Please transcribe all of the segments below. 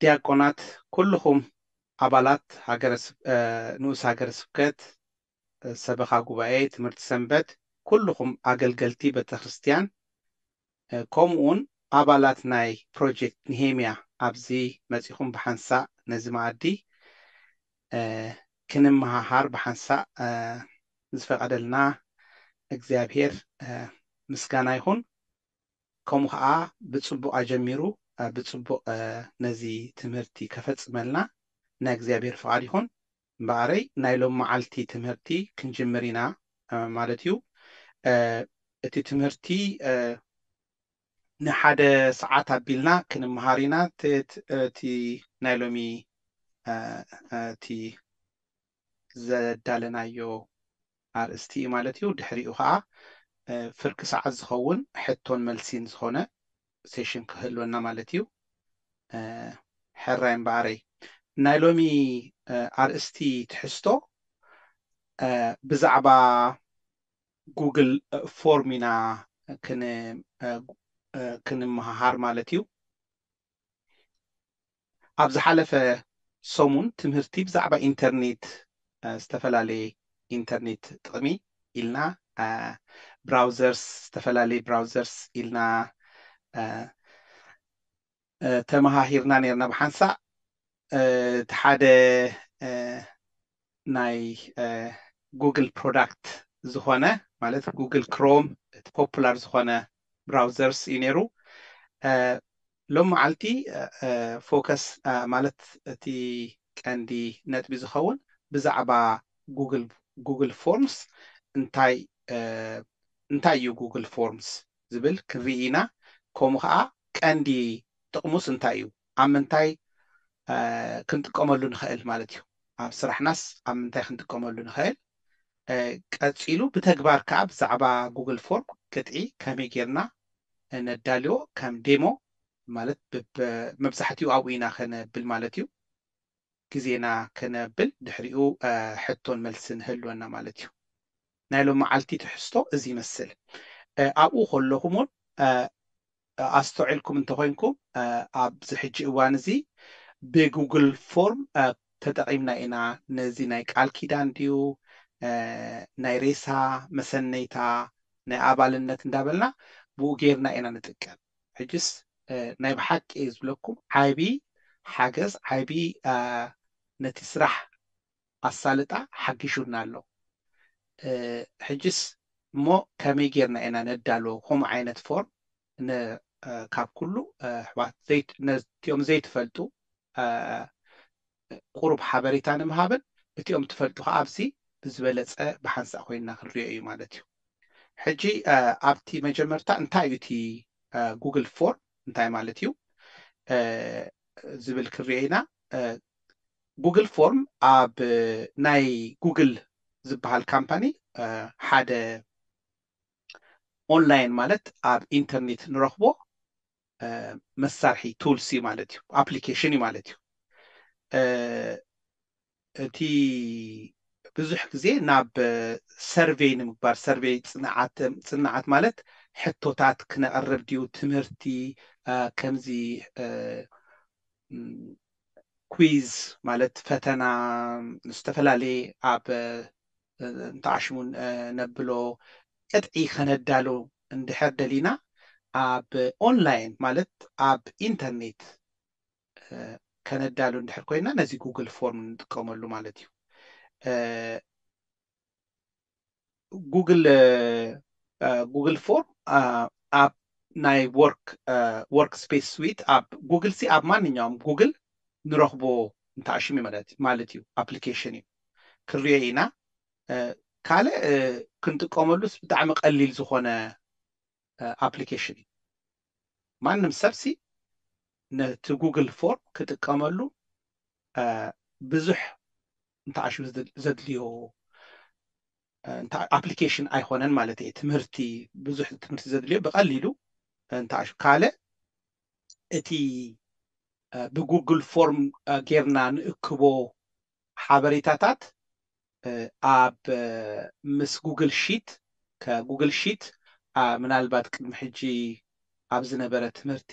ዲያቆናት ኩሉኹም ኣባላት ሃገረ ንኡስ ሃገረ ስብከት ሰበኻ ጉባኤ ትምህርቲ ሰንበት ኩሉኹም ኣገልገልቲ ቤተክርስትያን ኮሙኡውን ኣባላት ናይ ፕሮጀክት ንሄምያ ኣብዚ መጺኹም ብሓንሳእ ነዚ መኣዲ ክንመሃሃር ብሓንሳእ ንዝፈቀደልና እግዚኣብሄር ምስጋና ይኹን። ከምኡ ከኣ ብጽቡቕ ኣጀሚሩ ብጽቡቕ ነዚ ትምህርቲ ከፈጽመልና ናይ እግዚኣብሔር ፍቓድ ይኹን። እምበኣረይ ናይ ሎምመዓልቲ ትምህርቲ ክንጅምር ኢና ማለት እዩ። እቲ ትምህርቲ ንሓደ ሰዓት ኣቢልና ክንመሃር ኢና። እቲ ናይ ሎሚ እቲ ዘዳለናዮ ኣርእስቲ እዩ ማለት እዩ። ድሕሪኡ ከዓ ፍርቂ ሰዓት ዝኸውን ሕቶን መልሲን ዝኾነ ሴሽን ክህልወና ማለት እዩ። ሕራይ እምበኣረይ ናይ ሎሚ ኣርእስቲ ትሕዝቶ ብዛዕባ ጉግል ፎርም ኢና ክንመሃሃር ማለት እዩ። ኣብ ዝሓለፈ ሰሙን ትምህርቲ ብዛዕባ ኢንተርኔት ዝተፈላለየ ኢንተርኔት ጥቕሚ ኢልና ብራውዘርስ ዝተፈላለየ ብራውዘርስ ኢልና ተመሃሂርና ነርና ብሓንሳእ እቲ ሓደ ናይ ጉግል ፕሮዳክት ዝኾነ ማለት ጉግል ክሮም እቲ ፖፑላር ዝኾነ ብራውዘርስ እዩ ነይሩ ሎም መዓልቲ ፎከስ ማለት እቲ ቀንዲ ነጥቢ ዝኸውን ብዛዕባ ጉግል ጉግል ፎርምስ እንታይ እንታይ እዩ ጉግል ፎርምስ ዝብል ክንርኢ ኢና ከምኡ ከዓ ቀንዲ ጥቕሙስ እንታይ እዩ ኣብ ምንታይ ክንጥቀመሉ ንኸእል ማለት እዩ። ኣብ ስራሕናስ ኣብ ምንታይ ክንጥቀመሉ ንኸእል፣ ቀጺሉ ብተግባር ከኣ ብዛዕባ ጉግል ፎርም ቅጥዒ ከመይ ጌርና ነዳልዎ ከም ዴሞ ማለት መብዛሕትኡ ኣብኡ ኢና ከነብል ማለት እዩ። ግዜና ክነብል ድሕሪኡ ሕቶን መልስን ህልወና ማለት እዩ። ናይ ሎምዓልቲ ትሕዝቶ እዚ ይመስል። ኣብኡ ከለኹምውን ኣስተውዒልኩም እንተኾይንኩም ኣብዚ ሕጂ እዋን እዚ ብጉግል ፎርም ተጠቒምና ኢና ነዚ ናይ ቃል ኪዳን ድዩ ናይ ሬሳ መሰነይታ ናይ ኣባልነት እንዳበልና ብኡ ጌርና ኢና ንጥቀም። ሕጅስ ናይ ብሓቂ እየ ዝብለኩም ዓቢ ሓገዝ ዓቢ ነቲ ስራሕ ኣሳልጣ ሓጊሹና ኣሎ ሕጅስ እሞ ከመይ ጌርና ኢና ነዳልዎ ከምኡ ዓይነት ፎርም ን ካብ ኩሉ ኣሕዋት ዘይት ነቲኦም ዘይትፈልጡ ቁሩብ ሓበሬታ ንምሃብን እቲኦም ትፈልጡ ከኣ ኣብዚ ብዝበለጸ ብሓንሳእ ኮይንና ክንሪኦ እዩ ማለት እዩ ሕጂ ኣብቲ መጀመርታ እንታይ እዩ እቲ ጉግል ፎርም እንታይ ማለት እዩ ዝብል ክንሪኦ ኢና ጉግል ፎርም ኣብ ናይ ጉግል ዝበሃል ካምፓኒ ሓደ ኦንላይን ማለት ኣብ ኢንተርኔት ንረኽቦ መሳርሒ ቱልስ እዩ ማለት እዩ ኣፕሊኬሽን እዩ ማለት እዩ እቲ ብዙሕ ግዜ ናብ ሰርቬይ ንምግባር ሰርቬይ ፅንዓት ፅንዓት ማለት ሕቶታት ክነቕርብ ድዩ ትምህርቲ ከምዚ ኲዝ ማለት ፈተና ዝተፈላለየ ኣብ እንተዓሽሙ ነብሎ ቅጥዒ ከነዳሉ እንድሕር ደሊና ኣብ ኦንላይን ማለት ኣብ ኢንተርኔት ከነዳሉ እንድሕር ኮይና ነዚ ጉግል ፎርም ንጥቀመሉ ማለት እዩ። ጉግል ጉግል ፎርም ኣብ ናይ ወርክ ወርክ ስፔስ ስዊት ኣብ ጉግል ሲ ኣብ ማንኛውም ጉግል ንረኽቦ እንተኣሽሚ ማለት ማለት እዩ ኣፕሊኬሽን እዩ ክንሪኦ ኢና ካልእ ክንጥቀመሉስ ብጣዕሚ ቀሊል ዝኾነ ኣፕሊኬሽን እዩ ማንም ሰብሲ ነቲ ጉግል ፎርም ክጥቀመሉ ብዙሕ እንተዓሹ ዘድልዮ ኣፕሊኬሽን ኣይኮነን ማለት እየ ትምህርቲ ብዙሕ ትምህርቲ ዘድልዮ ብቀሊሉ እንተዓሹ ካልእ እቲ ብጉግል ፎርም ጌርና ንእክቦ ሓበሬታታት ኣብ ምስ ጉግል ሺት ከጉግል ሺት ምናልባት ቅድሚ ሕጂ ኣብ ዝነበረ ትምህርቲ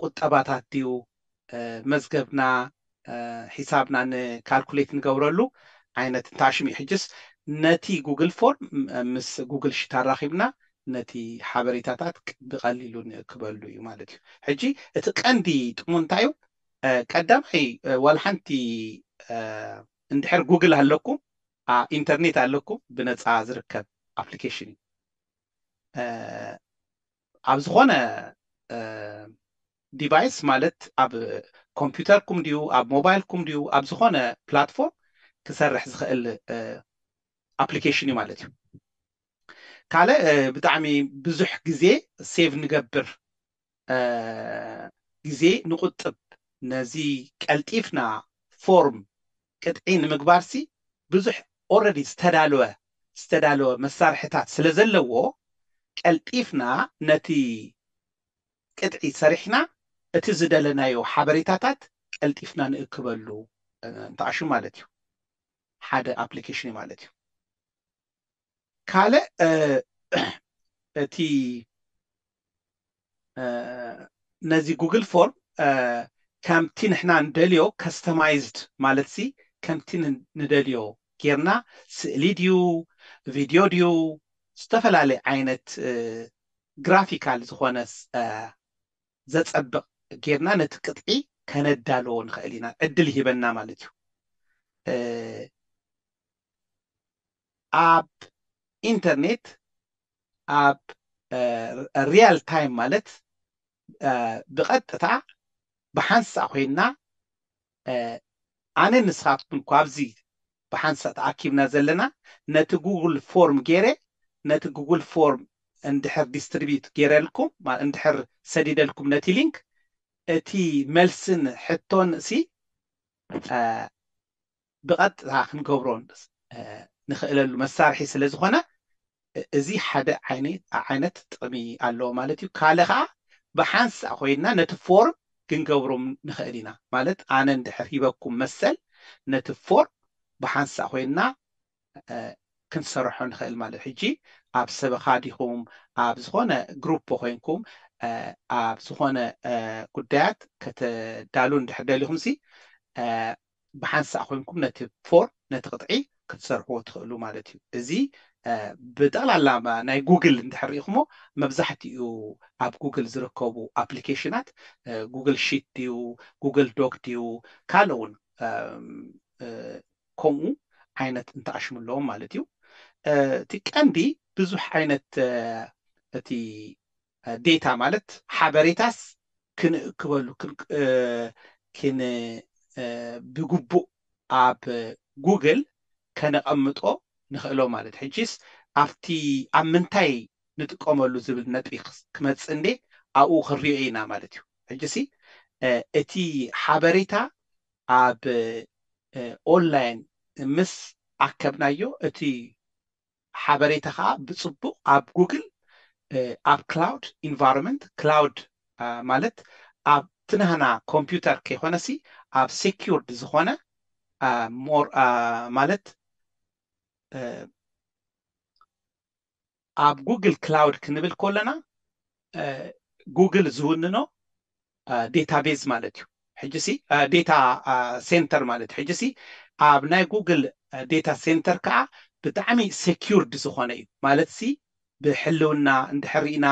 ቁጠባታት ድዩ መዝገብና ሒሳብና ን ካልኩሌት ንገብረሉ ዓይነት እንተኣ ሽም እዩ ሕጅስ ነቲ ጉግል ፎርም ምስ ጉግል ሺት ኣራኺብና ነቲ ሓበሬታታት ብቀሊሉ ንእክበሉ እዩ ማለት እዩ ሕጂ እቲ ቀንዲ ጥቅሙ እንታይ እዩ ቀዳማይ ዋላ ሓንቲ እንድሕር ጉግል ኣለኩም ኢንተርኔት ኣለኩም ብነፃ ዝርከብ ኣፕሊኬሽን እዩ ኣብ ዝኾነ ዲቫይስ ማለት ኣብ ኮምፒውተርኩም ድዩ ኣብ ሞባይልኩም ድዩ ኣብ ዝኾነ ፕላትፎርም ክሰርሕ ዝኽእል ኣፕሊኬሽን እዩ ማለት እዩ ካልእ ብጣዕሚ ብዙሕ ግዜ ሴቭ ንገብር ግዜ ንቁጥብ ነዚ ቀልጢፍና ፎርም ቅጥዒ ንምግባርሲ ብዙሕ ኦረዲ ዝተዳለወ ዝተዳለወ መሳርሕታት ስለ ዘለዎ ቀልጢፍና ነቲ ቅጥዒ ሰሪሕና እቲ ዝደለናዮ ሓበሬታታት ቀልጢፍና ንእክበሉ እንተኣሹ ማለት እዩ ሓደ ኣፕሊኬሽን እዩ ማለት እዩ። ካልእ እቲ ነዚ ጉግል ፎርም ከምቲ ንሕና ንደልዮ ከስተማይዝድ ማለትሲ ከምቲ ንደልዮ ጌርና ስእሊ ድዩ ቪድዮ ድዩ ዝተፈላለየ ዓይነት ግራፊካል ዝኾነ ዘጸብቕ ጌርና ነቲ ቅጥዒ ከነዳልዎ ንኽእል ኢና ዕድል ይህበና ማለት እዩ ኣብ ኢንተርኔት ኣብ ሪያል ታይም ማለት ብቐጥታ ብሓንሳእ ኮይንና ኣነን ንስኻትኩምን እኳ ኣብዚ ብሓንሳእ ተኣኪብና ዘለና ነቲ ጉግል ፎርም ገይረ ነቲ ጉግል ፎርም እንድሕር ዲስትሪቢዩት ገይረልኩም ማለት እንድሕር ሰዲደልኩም ነቲ ሊንክ እቲ መልስን ሕቶን እሲ ብቐጥታ ክንገብሮ ንኽእለሉ መሳርሒ ስለ ዝኾነ እዚ ሓደ ዓይነት ጥቕሚ ኣለዎ ማለት እዩ። ካልእ ኸኣ ብሓንሳእ ኮይንና ነቲ ፎርም ክንገብሮ ንኽእል ኢና። ማለት ኣነ እንድሕር ሂበኩም መሰል ነቲ ፎርም ብሓንሳእ ኮይንና ክንሰርሖ ንኽእል ማለት እዩ። ሕጂ ኣብ ሰበኻ ዲኹም ኣብ ዝኾነ ግሩፕ ኮይንኩም ኣብ ዝኾነ ጉዳያት ከተዳልዉ እንድሕር ደሊኹምሲ ብሓንሳእ ኮይንኩም ነቲ ፎር ነቲ ቅጥዒ ክትሰርሕዎ ትኽእሉ ማለት እዩ እዚ ብጠቕላላ ናይ ጉግል እንድሕር ሪኢኹሞ መብዛሕትኡ ኣብ ጉግል ዝርከቡ ኣፕሊኬሽናት ጉግል ሺት ድዩ ጉግል ዶክ ድዩ ካልእ እውን ከምኡ ዓይነት እንትኣሽሙ ኣለዎም ማለት እዩ እቲ ቀንዲ ብዙሕ ዓይነት እቲ ዴታ ማለት ሓበሬታስ ክንእክበሉ ብግቡእ ኣብ ጉግል ከነቐምጦ ንኽእሎ ማለት ሕጂስ ኣብቲ ኣብ ምንታይ ንጥቀመሉ ዝብል ነጥቢ ክመፅእ እንዴ ኣብኡ ክንሪኦ ኢና ማለት እዩ። ሕጂሲ እቲ ሓበሬታ ኣብ ኦንላይን ምስ ኣከብናዮ እቲ ሓበሬታ ከኣ ብጽቡቕ ኣብ ጉግል ኣብ ክላውድ ኢንቫሮመንት ክላውድ ማለት ኣብቲ ናህና ኮምፒውተር ከይኮነሲ ኣብ ሴኩርድ ዝኾነ ማለት ኣብ ጉግል ክላውድ ክንብል ከለና ጉግል ዝውንኖ ዴታቤዝ ማለት እዩ ሕጂሲ ዴታ ሴንተር ማለት እዩ ሕጂሲ ኣብ ናይ ጉግል ዴታ ሴንተር ከዓ ብጣዕሚ ሴኪውርድ ዝኾነ እዩ ማለትሲ ብሕልውና እንድሕር ሪእና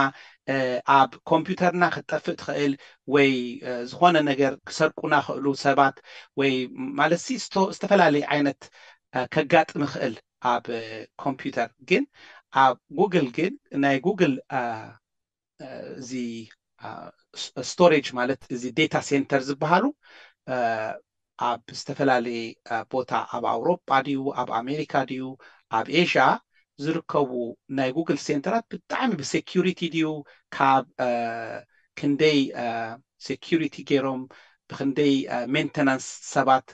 ኣብ ኮምፒውተርና ክትጠፍእ ትኽእል ወይ ዝኾነ ነገር ክሰርቁና ክእሉ ሰባት ወይ ማለትሲ ዝተፈላለዩ ዓይነት ከጋጥም ይኽእል ኣብ ኮምፒውተር ግን ኣብ ጉግል ግን ናይ ጉግል እዚ ስቶሬጅ ማለት እዚ ዴታ ሴንተር ዝበሃሉ ኣብ ዝተፈላለየ ቦታ ኣብ ኣውሮጳ ድዩ ኣብ ኣሜሪካ ድዩ ኣብ ኤዥያ ዝርከቡ ናይ ጉግል ሴንተራት ብጣዕሚ ብሴኪሪቲ ድዩ ካብ ክንደይ ሴኪሪቲ ገይሮም ብክንደይ ሜንተናንስ ሰባት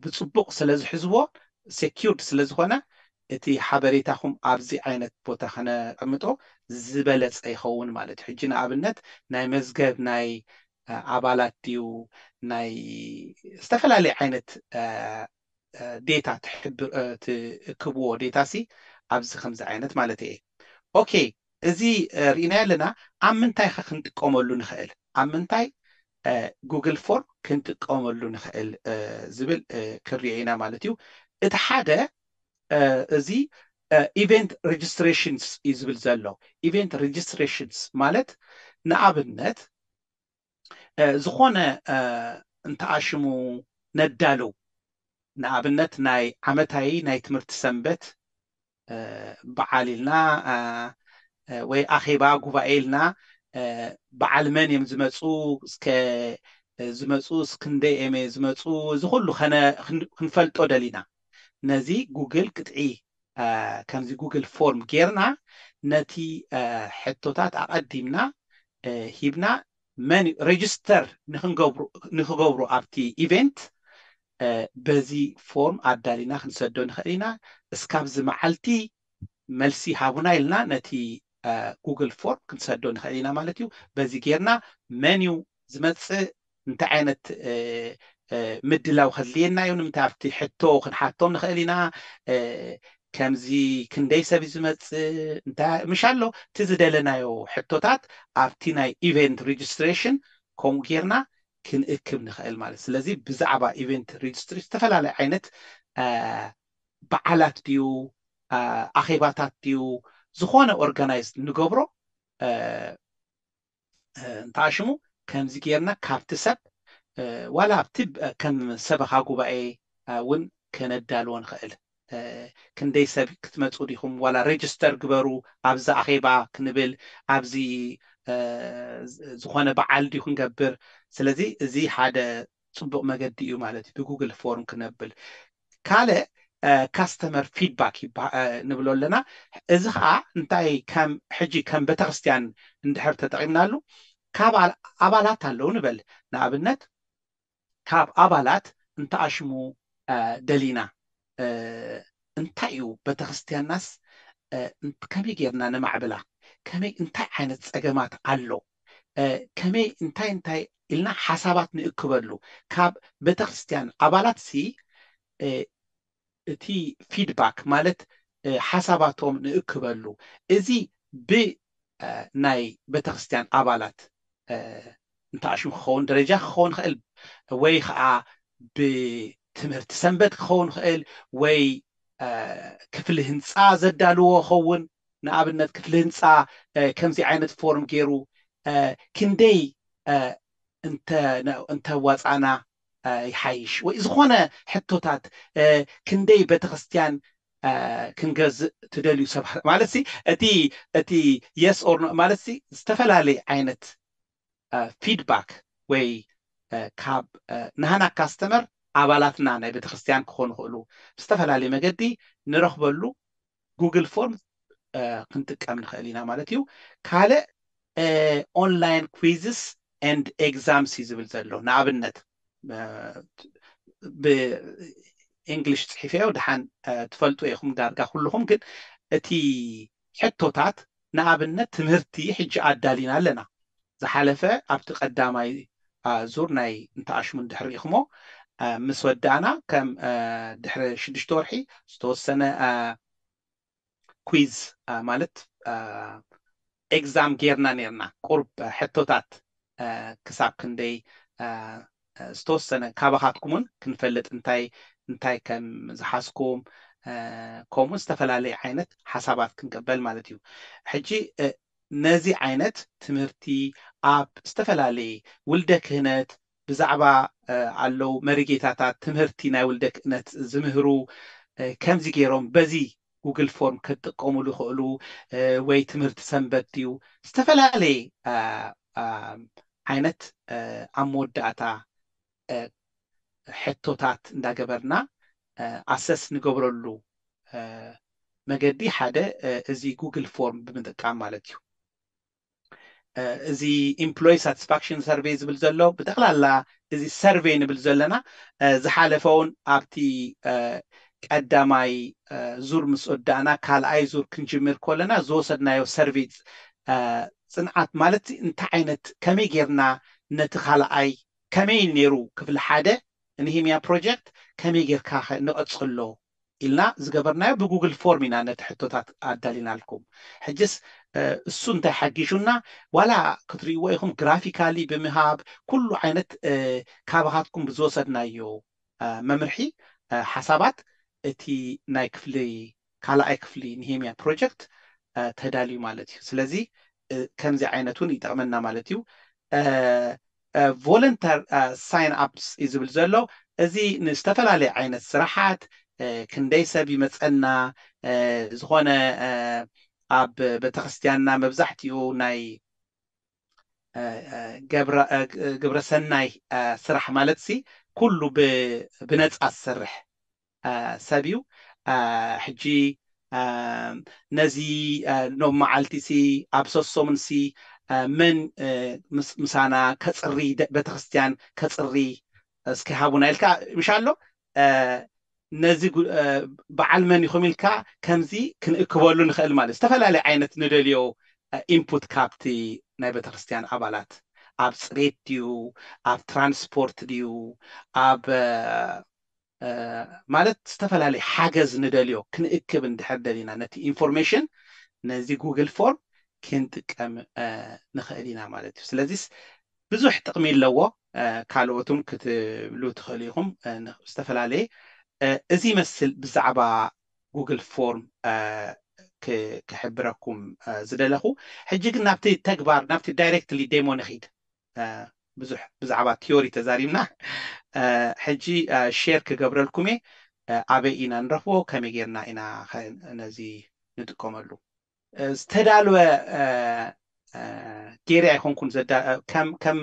ብፅቡቅ ስለዝሕዝዎ ሴኪውርድ ስለዝኾነ እቲ ሓበሬታኹም ኣብዚ ዓይነት ቦታ ከነቀምጦ ዝበለፀ ይኸውን ማለት እዩ። ሕጂ ንኣብነት ናይ መዝገብ ናይ ኣባላት ድዩ ናይ ዝተፈላለየ ዓይነት ዴታ ትሕብር ትእክብዎ ዴታሲ ኣብዚ ከምዚ ዓይነት ማለተይ እየ። ኦኬ እዚ ርኢናዮ ኣለና ኣብ ምንታይ ከ ክንጥቀመሉ ንክእል ኣብ ምንታይ ጉግል ፎርም ክንጥቀመሉ ንክእል ዝብል ክንሪኦ ኢና ማለት እዩ እቲ ሓደ እዚ ኢቨንት ሬጅስትሬሽንስ እዩ ዝብል ዘሎ ኢቨንት ሬጅስትሬሽንስ ማለት ንኣብነት ዝኾነ እንተኣሽሙ ነዳልው ንኣብነት ናይ ዓመታዊ ናይ ትምህርቲ ሰንበት በዓል ኢልና ወይ ኣኼባ ጉባኤ ኢልና በዓል መን እዮም ዝመፁ እስከ ዝመፁ እስክንደይ እዮም ዝመፁ እዚ ኩሉ ክንፈልጦ ደሊና ነዚ ጉግል ቅጥዒ ከምዚ ጉግል ፎርም ጌርና ነቲ ሕቶታት ኣቐዲምና ሂብና መን እዩ ሬጅስተር ንክገብሩ ኣብቲ ኢቨንት በዚ ፎርም ኣዳሊና ክንሰዶ ንኽእል ኢና እስካብዚ መዓልቲ መልሲ ሃቡና ኢልና ነቲ ጉግል ፎርም ክንሰዶ ንኽእል ኢና ማለት እዩ በዚ ጌርና መን እዩ ዝመፅእ እንታይ ዓይነት ምድላው ከድልየና እዩ? ንምንታይ ኣብቲ ሕቶ ክንሓቶም ንኽእል ኢና? ከምዚ ክንደይ ሰብ እዩ ዝመጽእ? እንታይ ምሽ ኣሎ? እቲ ዝደለናዮ ሕቶታት ኣብቲ ናይ ኢቨንት ሬጅስትሬሽን ከምኡ ጌርና ክንእክብ ንኽእል ማለት ስለዚ ብዛዕባ ኢቨንት ሬጅስትሬሽን ዝተፈላለዩ ዓይነት በዓላት ድዩ ኣኼባታት ድዩ ዝኾነ ኦርጋናይዝ ንገብሮ እንተኣሽሙ ከምዚ ጌርና ካብቲ ሰብ ዋላ ኣብቲ ከም ሰበኻ ጉባኤ ውን ከነዳልዎ ንኽእል ክንደይ ሰብ ክትመጹ ዲኹም ዋላ ረጅስተር ግበሩ ኣብዚ ኣኼባ ክንብል ኣብዚ ዝኾነ በዓል ድዩ ክንገብር ስለዚ እዚ ሓደ ፅቡቅ መገዲ እዩ ማለት እዩ ብጉግል ፎርም ክነብል ካልእ ካስተመር ፊድባክ ንብሎ ኣለና እዚ ከዓ እንታይ ከም ሕጂ ከም ቤተክርስትያን እንድሕር ተጠቂምናሉ ካብ ኣባላት ኣለው ንበል ንኣብነት ካብ ኣባላት እንተኣሽሙ ደሊና እንታይ እዩ ቤተክርስትያንናስ ከመይ ጌርና ነማዕብላ ከመይ እንታይ ዓይነት ጸገማት ኣሎ ከመይ እንታይ እንታይ ኢልና ሓሳባት ንእክበሉ ካብ ቤተክርስትያን ኣባላትሲ እቲ ፊድባክ ማለት ሓሳባቶም ንእክበሉ እዚ ብናይ ቤተክርስትያን ኣባላት እንተ ኣሽሙ ክኸውን ደረጃ ክኸውን ይኽእል ወይ ኸኣ ብትምህርቲ ሰንበት ክኸውን ይኽእል ወይ ክፍሊ ህንጻ ዘዳልዎ ይኸውን ንኣብነት ክፍሊ ህንጻ ከምዚ ዓይነት ፎርም ጌሩ ክንደይ እንተ እንተዋጻእና ይሓይሽ ወይ ዝኾነ ሕቶታት ክንደይ ቤተክርስትያን ክንገዝእ ትደልዩ ሰብ ማለት እቲ እቲ የስ ኦር ኖ ማለት ዝተፈላለየ ዓይነት ፊድባክ ወይ ካብ ናህና ካስተመር ኣባላትና ናይ ቤተክርስትያን ክኾኑ ይኽእሉ ብዝተፈላለየ መገዲ ንረኽበሉ ጉግል ፎርም ክንጥቀም ንኽእል ኢና ማለት እዩ ካልእ ኦንላይን ኩዊዝስ ኤንድ ኤግዛምስ እዩ ዝብል ዘሎ ንኣብነት ብእንግሊሽ ፅሒፈዮ ደሓን ትፈልጡ ኢኹም ዳርጋ ኩልኹም ግን እቲ ሕቶታት ንኣብነት ትምህርቲ ሕጂ ኣዳሊና ኣለና ዝሓለፈ ኣብቲ ቀዳማይ ዙር ናይ እንተ ኣሽሙን ድሕር ሪኢክሞ ምስ ወዳእና ከም ድሕሪ ሽዱሽተ ወርሒ ዝተወሰነ ኲዝ ማለት ኤግዛም ጌርና ኔርና ቁሩብ ሕቶታት ክሳብ ክንደይ ዝተወሰነ ካባኻትኩምውን ክንፈልጥ እንታይ እንታይ ከም ዝሓዝኩም ከምኡ ዝተፈላለየ ዓይነት ሓሳባት ክንቅበል ማለት እዩ ሕጂ ነዚ ዓይነት ትምህርቲ ኣብ ዝተፈላለየ ውልደ ክህነት ብዛዕባ ኣለው መሪጌታታት ትምህርቲ ናይ ውልደ ክእነት ዝምህሩ ከምዚ ገይሮም በዚ ጉግል ፎርም ከትጥቀሙሉ ይኸእሉ ወይ ትምህርቲ ሰንበት ድዩ ዝተፈላለየ ዓይነት ኣብ መወዳእታ ሕቶታት እንዳገበርና ኣሰስ ንገብረሉ መገዲ ሓደ እዚ ጉግል ፎርም ብምጥቃም ማለት እዩ። እዚ ኢምፕሎይ ሳትስፋክሽን ሰርቬይ ዝብል ዘሎ ብጠቕላላ እዚ ሰርቬይ ንብል ዘለና ዝሓለፈ እውን ኣብቲ ቀዳማይ ዙር ምስ ወዳእና ካልኣይ ዙር ክንጅምር ከለና ዝወሰድናዮ ሰርቬይ ፅንዓት ማለት እንታይ ዓይነት ከመይ ጌርና ነቲ ካልኣይ ከመይ ነይሩ ክፍሊ ሓደ ንሂምያ ፕሮጀክት ከመይ ጌርካ ንቐፅሎ ኢልና ዝገበርናዮ ብጉግል ፎርም ኢና ነቲ ሕቶታት ኣዳሊናልኩም። ሕጅስ እሱ እንታይ ሓጊዡና ዋላ ክትርእይዎ ኢኹም ግራፊካሊ ብምሃብ ኩሉ ዓይነት ካባኻትኩም ብዝወሰድናዮ መምርሒ ሓሳባት እቲ ናይ ክፍሊ ካልኣይ ክፍሊ ንሄምያ ፕሮጀክት ተዳልዩ ማለት እዩ። ስለዚ ከምዚ ዓይነት እውን ይጠቕመና ማለት እዩ። ቮለንተር ሳይን ኣፕስ እዩ ዝብል ዘሎ እዚ ንዝተፈላለየ ዓይነት ስራሓት ክንደይ ሰብ ይመፀና ዝኾነ ኣብ ቤተክርስትያንና መብዛሕትኡ ናይ ግብረሰናይ ስራሕ ማለትሲ ኩሉ ብነፃ ዝሰርሕ ሰብ እዩ ሕጂ ነዚ ሎም መዓልቲ ሲ ኣብ ሰሶሙን ሲ መን ምሳና ከጽሪ ቤተክርስትያን ከጽሪ እስኪ ሃቡና ኢልካ ምሽ ኣሎ ነዚ በዓል መን ኢኩም ኢልካ ከምዚ ክንእክበሉ ንክእል ማለት ዝተፈላለየ ዓይነት ንደልዮ ኢንፑት ካብቲ ናይ ቤተክርስትያን ኣባላት ኣብ ጽሬት ድዩ ኣብ ትራንስፖርት ድዩ ኣብ ማለት ዝተፈላለየ ሓገዝ ንደልዮ ክንእክብ እንድሕር ደሊና ነቲ ኢንፎርሜሽን ነዚ ጉግል ፎርም ክንጥቀም ንኽእል ኢና ማለት እዩ። ስለዚስ ብዙሕ ጥቕሚ ኣለዎ። ካልኦትም ክትብሉ ትኽእሉ ኢኹም ዝተፈላለየ እዚ ይመስል ብዛዕባ ጉግል ፎርም ክሕብረኩም ዝደለኹ። ሕጂ ግን ናብቲ ተግባር ናብቲ ዳይሬክትሊ ዴሞ ንኺድ። ብዙሕ ብዛዕባ ትዮሪ ተዛሪብና ሕጂ ሼር ክገብረልኩም እየ ኣበይ ኢና ንረኽቦ ከመይ ጌርና ኢና ከ ነዚ ንጥቀመሉ። ዝተዳልወ ጌረ ኣይኮንኩን ዘዳ ከም ከም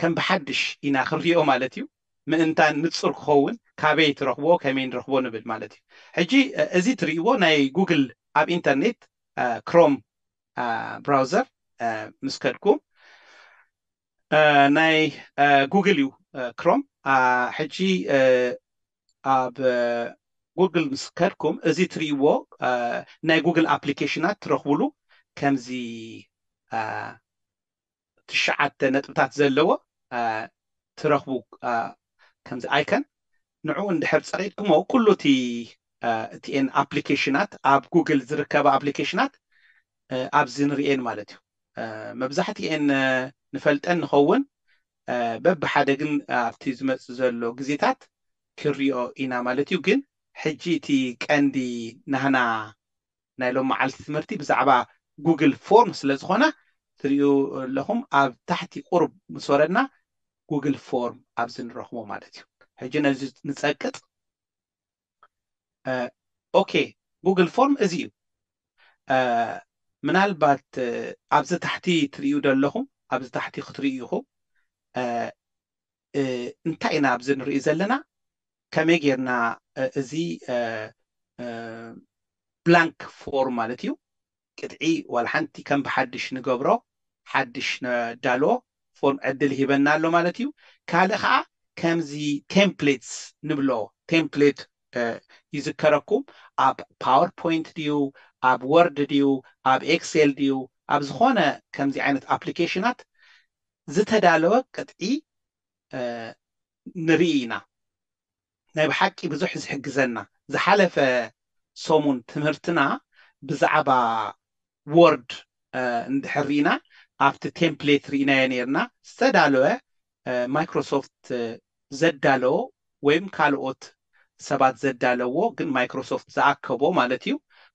ከም ብሓድሽ ኢና ክንሪኦ ማለት እዩ ምእንታን ንጹር ክኸውን ካበይ ትረኽቦ ከመይ ንረኽቦ ንብል ማለት እዩ። ሕጂ እዚ ትርእይዎ ናይ ጉግል ኣብ ኢንተርኔት ክሮም ብራውዘር ምስ ከድኩ ናይ ጉግል እዩ ክሮም ሕጂ ኣብ ጉግል ምስ ከድኩም እዚ ትርእይዎ ናይ ጉግል ኣፕሊኬሽናት ትረኽቡሉ ከምዚ ትሽዓተ ነጥብታት ዘለዎ ትረኽቡ ከምዚ ኣይከን ንዕኡ እንድሕር ጸቂጥክሞ ኩሉ እቲ እቲኤን ኣፕሊኬሽናት ኣብ ጉግል ዝርከባ ኣፕሊኬሽናት ኣብዚ ንርእየን ማለት እዩ መብዛሕትኤን ንፈልጠን ንኸውን በብሓደ ግን ኣብቲ ዝመጽእ ዘሎ ግዜታት ክንሪኦ ኢና ማለት እዩ ግን ሕጂ እቲ ቀንዲ ናህና ናይ ሎም መዓልቲ ትምህርቲ ብዛዕባ ጉግል ፎርም ስለ ዝኾነ ትሪኡ ኣለኹም ኣብ ታሕቲ ቁሩብ ምስ ወረድና ጉግል ፎርም ኣብዚ ንረኽቦ ማለት እዩ ሕጂ ነዚ ንጸቅጥ ኦኬ ጉግል ፎርም እዚ እዩ ምናልባት ኣብዚ ታሕቲ ትሪኡ ደለኹም ኣብዚ ታሕቲ ክትሪኡ ኢኹም እንታይ ኢና ኣብዚ ንርኢ ዘለና ከመይ ጌርና እዚ ብላንክ ፎርም ማለት እዩ ቅጥዒ ዋላ ሓንቲ ከም ብሓድሽ ንገብሮ ሓድሽ ነዳልዎ ፎርም ዕድል ሂበና ኣሎ ማለት እዩ ካልእ ከዓ ከምዚ ቴምፕሌትስ ንብሎ ቴምፕሌት ይዝከረኩም ኣብ ፓወርፖይንት ድዩ ኣብ ወርድ ድዩ ኣብ ኤክሴል ድዩ ኣብ ዝኾነ ከምዚ ዓይነት ኣፕሊኬሽናት ዝተዳለወ ቅጥዒ ንርኢ ኢና። ናይ ብሓቂ ብዙሕ ዝሕግዘና ዝሓለፈ ሰሙን ትምህርትና ብዛዕባ ዎርድ እንድሕር ሪኢና ኣብቲ ቴምፕሌት ሪኢናዮ ኔርና ዝተዳለወ ማይክሮሶፍት ዘዳለዎ ወይም ካልኦት ሰባት ዘዳለዎ ግን ማይክሮሶፍት ዝኣከቦ ማለት እዩ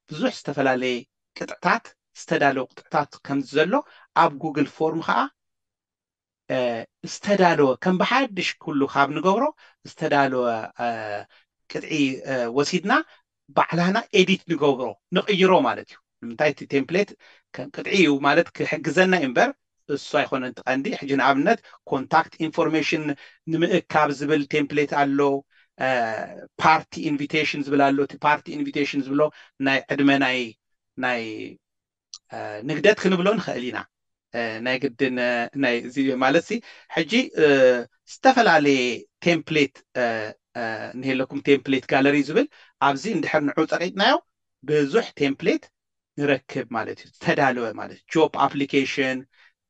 ብዙሕ ዝተፈላለየ ቅጥዕታት ዝተዳለወ ቅጥዕታት ከም ዘሎ ኣብ ጉግል ፎርም ከኣ ዝተዳለወ ከም ብሓድሽ ኩሉ ካብ ንገብሮ ዝተዳለወ ቅጥዒ ወሲድና ባዕላና ኤዲት ንገብሮ ንቕይሮ ማለት እዩ ንምንታይ እቲ ቴምፕሌት ከም ቅጥዒ እዩ ማለት ክሕግዘና እዩ እምበር እሱ ኣይኮነን እቲ ቀንዲ ሕጂ ንኣብነት ኮንታክት ኢንፎርሜሽን ንምእካብ ዝብል ቴምፕሌት ኣሎ ፓርቲ ኢንቪቴሽን ዝብል ኣሎ እቲ ፓርቲ ኢንቪቴሽን ዝብሎ ናይ ዕድመ ናይ ናይ ንግደት ክንብሎ ንኽእል ኢና ናይ ግድን ናይ እዚ ማለት ሲ ሕጂ ዝተፈላለየ ቴምፕሌት እንሄለኩም ቴምፕሌት ጋለሪ ዝብል ኣብዚ እንድሕር ንዑ ጸቂጥናዮ ብዙሕ ቴምፕሌት ንረክብ ማለት እዩ ዝተዳለወ ማለት ጆፕ ኣፕሊኬሽን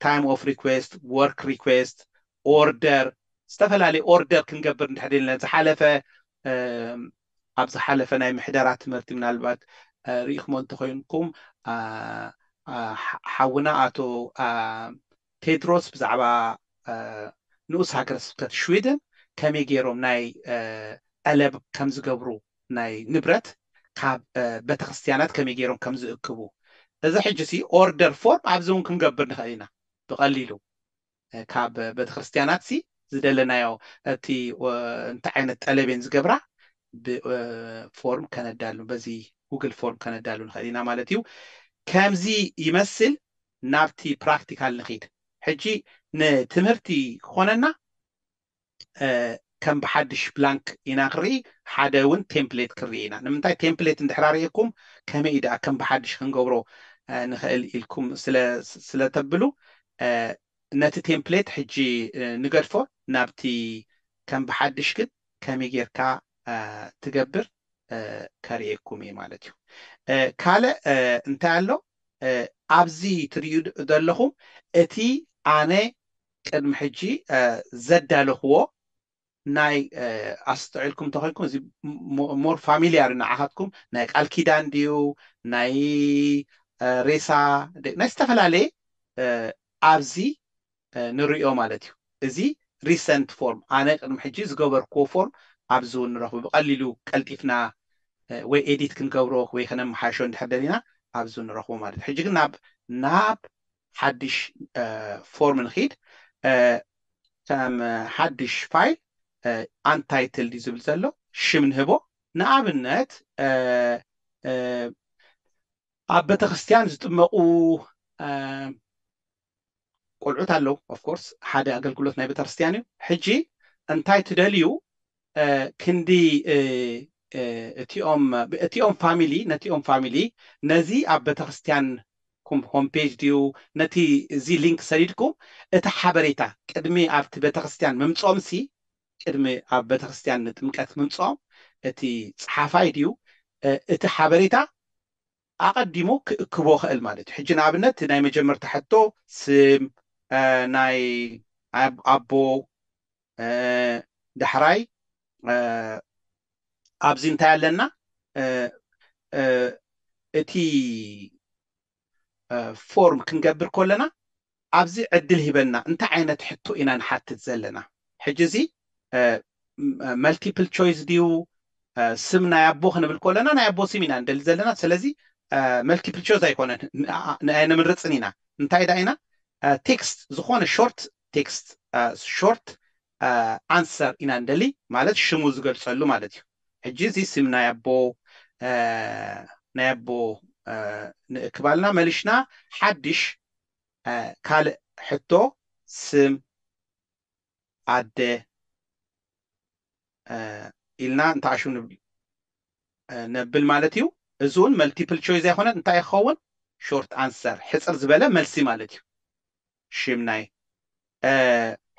ታይም ኦፍ ሪኩዌስት ወርክ ሪኩዌስት ኦርደር ዝተፈላለዩ ኦርደር ክንገብር እንድሕር ኢልና ዝሓለፈ ኣብ ዝሓለፈ ናይ ምሕደራ ትምህርቲ ምናልባት ርኢኹሞ እንተኾይንኩም ሓውና ኣቶ ቴድሮስ ብዛዕባ ንኡስ ሃገረ ስብከት ሽዊድን ከመይ ገይሮም ናይ ዐለብ ከም ዝገብሩ ናይ ንብረት ካብ በተክርስትያናት ከመይ ገይሮም ከም ዝእክቡ እዚ ሕጂ ሲ ኦርደር ፎርም ኣብዚ ውን ክንገብር ንክእል ኢና ብቀሊሉ ካብ በተክርስትያናት ሲ ዝደለናዮ እቲ እንታይ ዓይነት ጠለብ እየን ዝገብራ ብ ፎርም ከነዳሉ በዚ ጉግል ፎርም ከነዳሉ ንክእል ኢና ማለት እዩ ከምዚ ይመስል ናብቲ ፕራክቲካል ንኺድ ሕጂ ንትምህርቲ ክኾነና ከም ብሓድሽ ብላንክ ኢና ክንርኢ ሓደ እውን ቴምፕሌት ክንርኢ ኢና ንምንታይ ቴምፕሌት እንድሕር ኣርእየኩም ከመይ እዩ ደኣ ከም ብሓድሽ ክንገብሮ ንኽእል ኢልኩም ስለ ተብሉ ነቲ ቴምፕሌት ሕጂ ንገድፎ ናብቲ ከም ብሓድሽ ግን ከመይ ጌርካ ትገብር ከርእየኩም እየ ማለት እዩ ካልእ እንታይ ኣሎ ኣብዚ ትርእዩ ዘለኹም እቲ ኣነ ቅድሚ ሕጂ ዘዳለኽዎ ናይ ኣስተውዒልኩም እንተኾይንኩም እዚ ሞር ፋሚልያር ንዓኻትኩም ናይ ቃል ኪዳን ድዩ ናይ ሬሳ ናይ ዝተፈላለየ ኣብዚ ንርእዮ ማለት እዩ። እዚ Recent Form ኣነ ቅድሚ ሕጂ ዝገበርክዎ ፎርም ኣብዚ እውን ንረኽቦ። ብቐሊሉ ቀልጢፍና ወይ ኤዲት ክንገብሮ ወይ ከነመሓይሾ እንድሕር ደሊና ኣብዚ እውን ንረኽቦ ማለት እዩ። ሕጂ ግን ናብ ናብ ሓድሽ ፎርም ንኺድ። ከም ሓድሽ ፋይል Untitled እዩ ዝብል ዘሎ ሽም ንህቦ። ንኣብነት ኣብ ቤተክርስትያን ዝጥመቑ ቆልዑት ኣለው of course ሓደ ኣገልግሎት ናይ ቤተክርስትያን እዩ ሕጂ እንታይ ትደልዩ ክንዲ እቲኦም እቲኦም ፋሚሊ ነቲኦም ፋሚሊ ነዚ ኣብ ቤተክርስትያን ኩም ሆም ፔጅ ድዩ ነቲ እዚ ሊንክ ሰዲድኩም እቲ ሓበሬታ ቅድሚ ኣብቲ ቤተክርስትያን ምምጾምሲ ቅድሚ ኣብ ቤተክርስትያን ንጥምቀት ምምጾም እቲ ጸሓፋይ ድዩ እቲ ሓበሬታ ኣቐዲሙ ክእክቦ ኸእል ማለት እዩ። ሕጂ ንኣብነት እቲ ናይ መጀመርታ ሕቶ ስም ናይ ኣቦ ዳሕራይ ኣብዚ እንታይ ኣለና እቲ ፎርም ክንገብር ከለና ኣብዚ ዕድል ሂበና እንታይ ዓይነት ሕቶ ኢና ንሓትት ዘለና ሕጂ እዚ መልቲፕል ቾይስ ድዩ ስም ናይ ኣቦ ክንብል ኮለና ናይ ኣቦ ስም ኢና ንደሊ ዘለና ስለዚ መልቲፕል ቾይስ ኣይኮነን ንምርጽን ኢና እንታይ ዳ ኢና ቴክስት ዝኾነ ሾርት ቴክስት ሾርት ኣንሰር ኢና ንደሊ ማለት ሽሙ ዝገልጸሉ ማለት እዩ ሕጂ እዚ ስም ናይ ኣቦ ናይ ኣቦ ንእክባልና መልሽና ሓድሽ ካልእ ሕቶ ስም ኣደ ኢልና እንተኣሹ ንብል ነብል ማለት እዩ እዚ እውን መልቲፕል ቾይዝ ኣይኮነን እንታይ ክኸውን ሾርት ኣንሰር ሕጽር ዝበለ መልሲ ማለት እዩ ሽም ናይ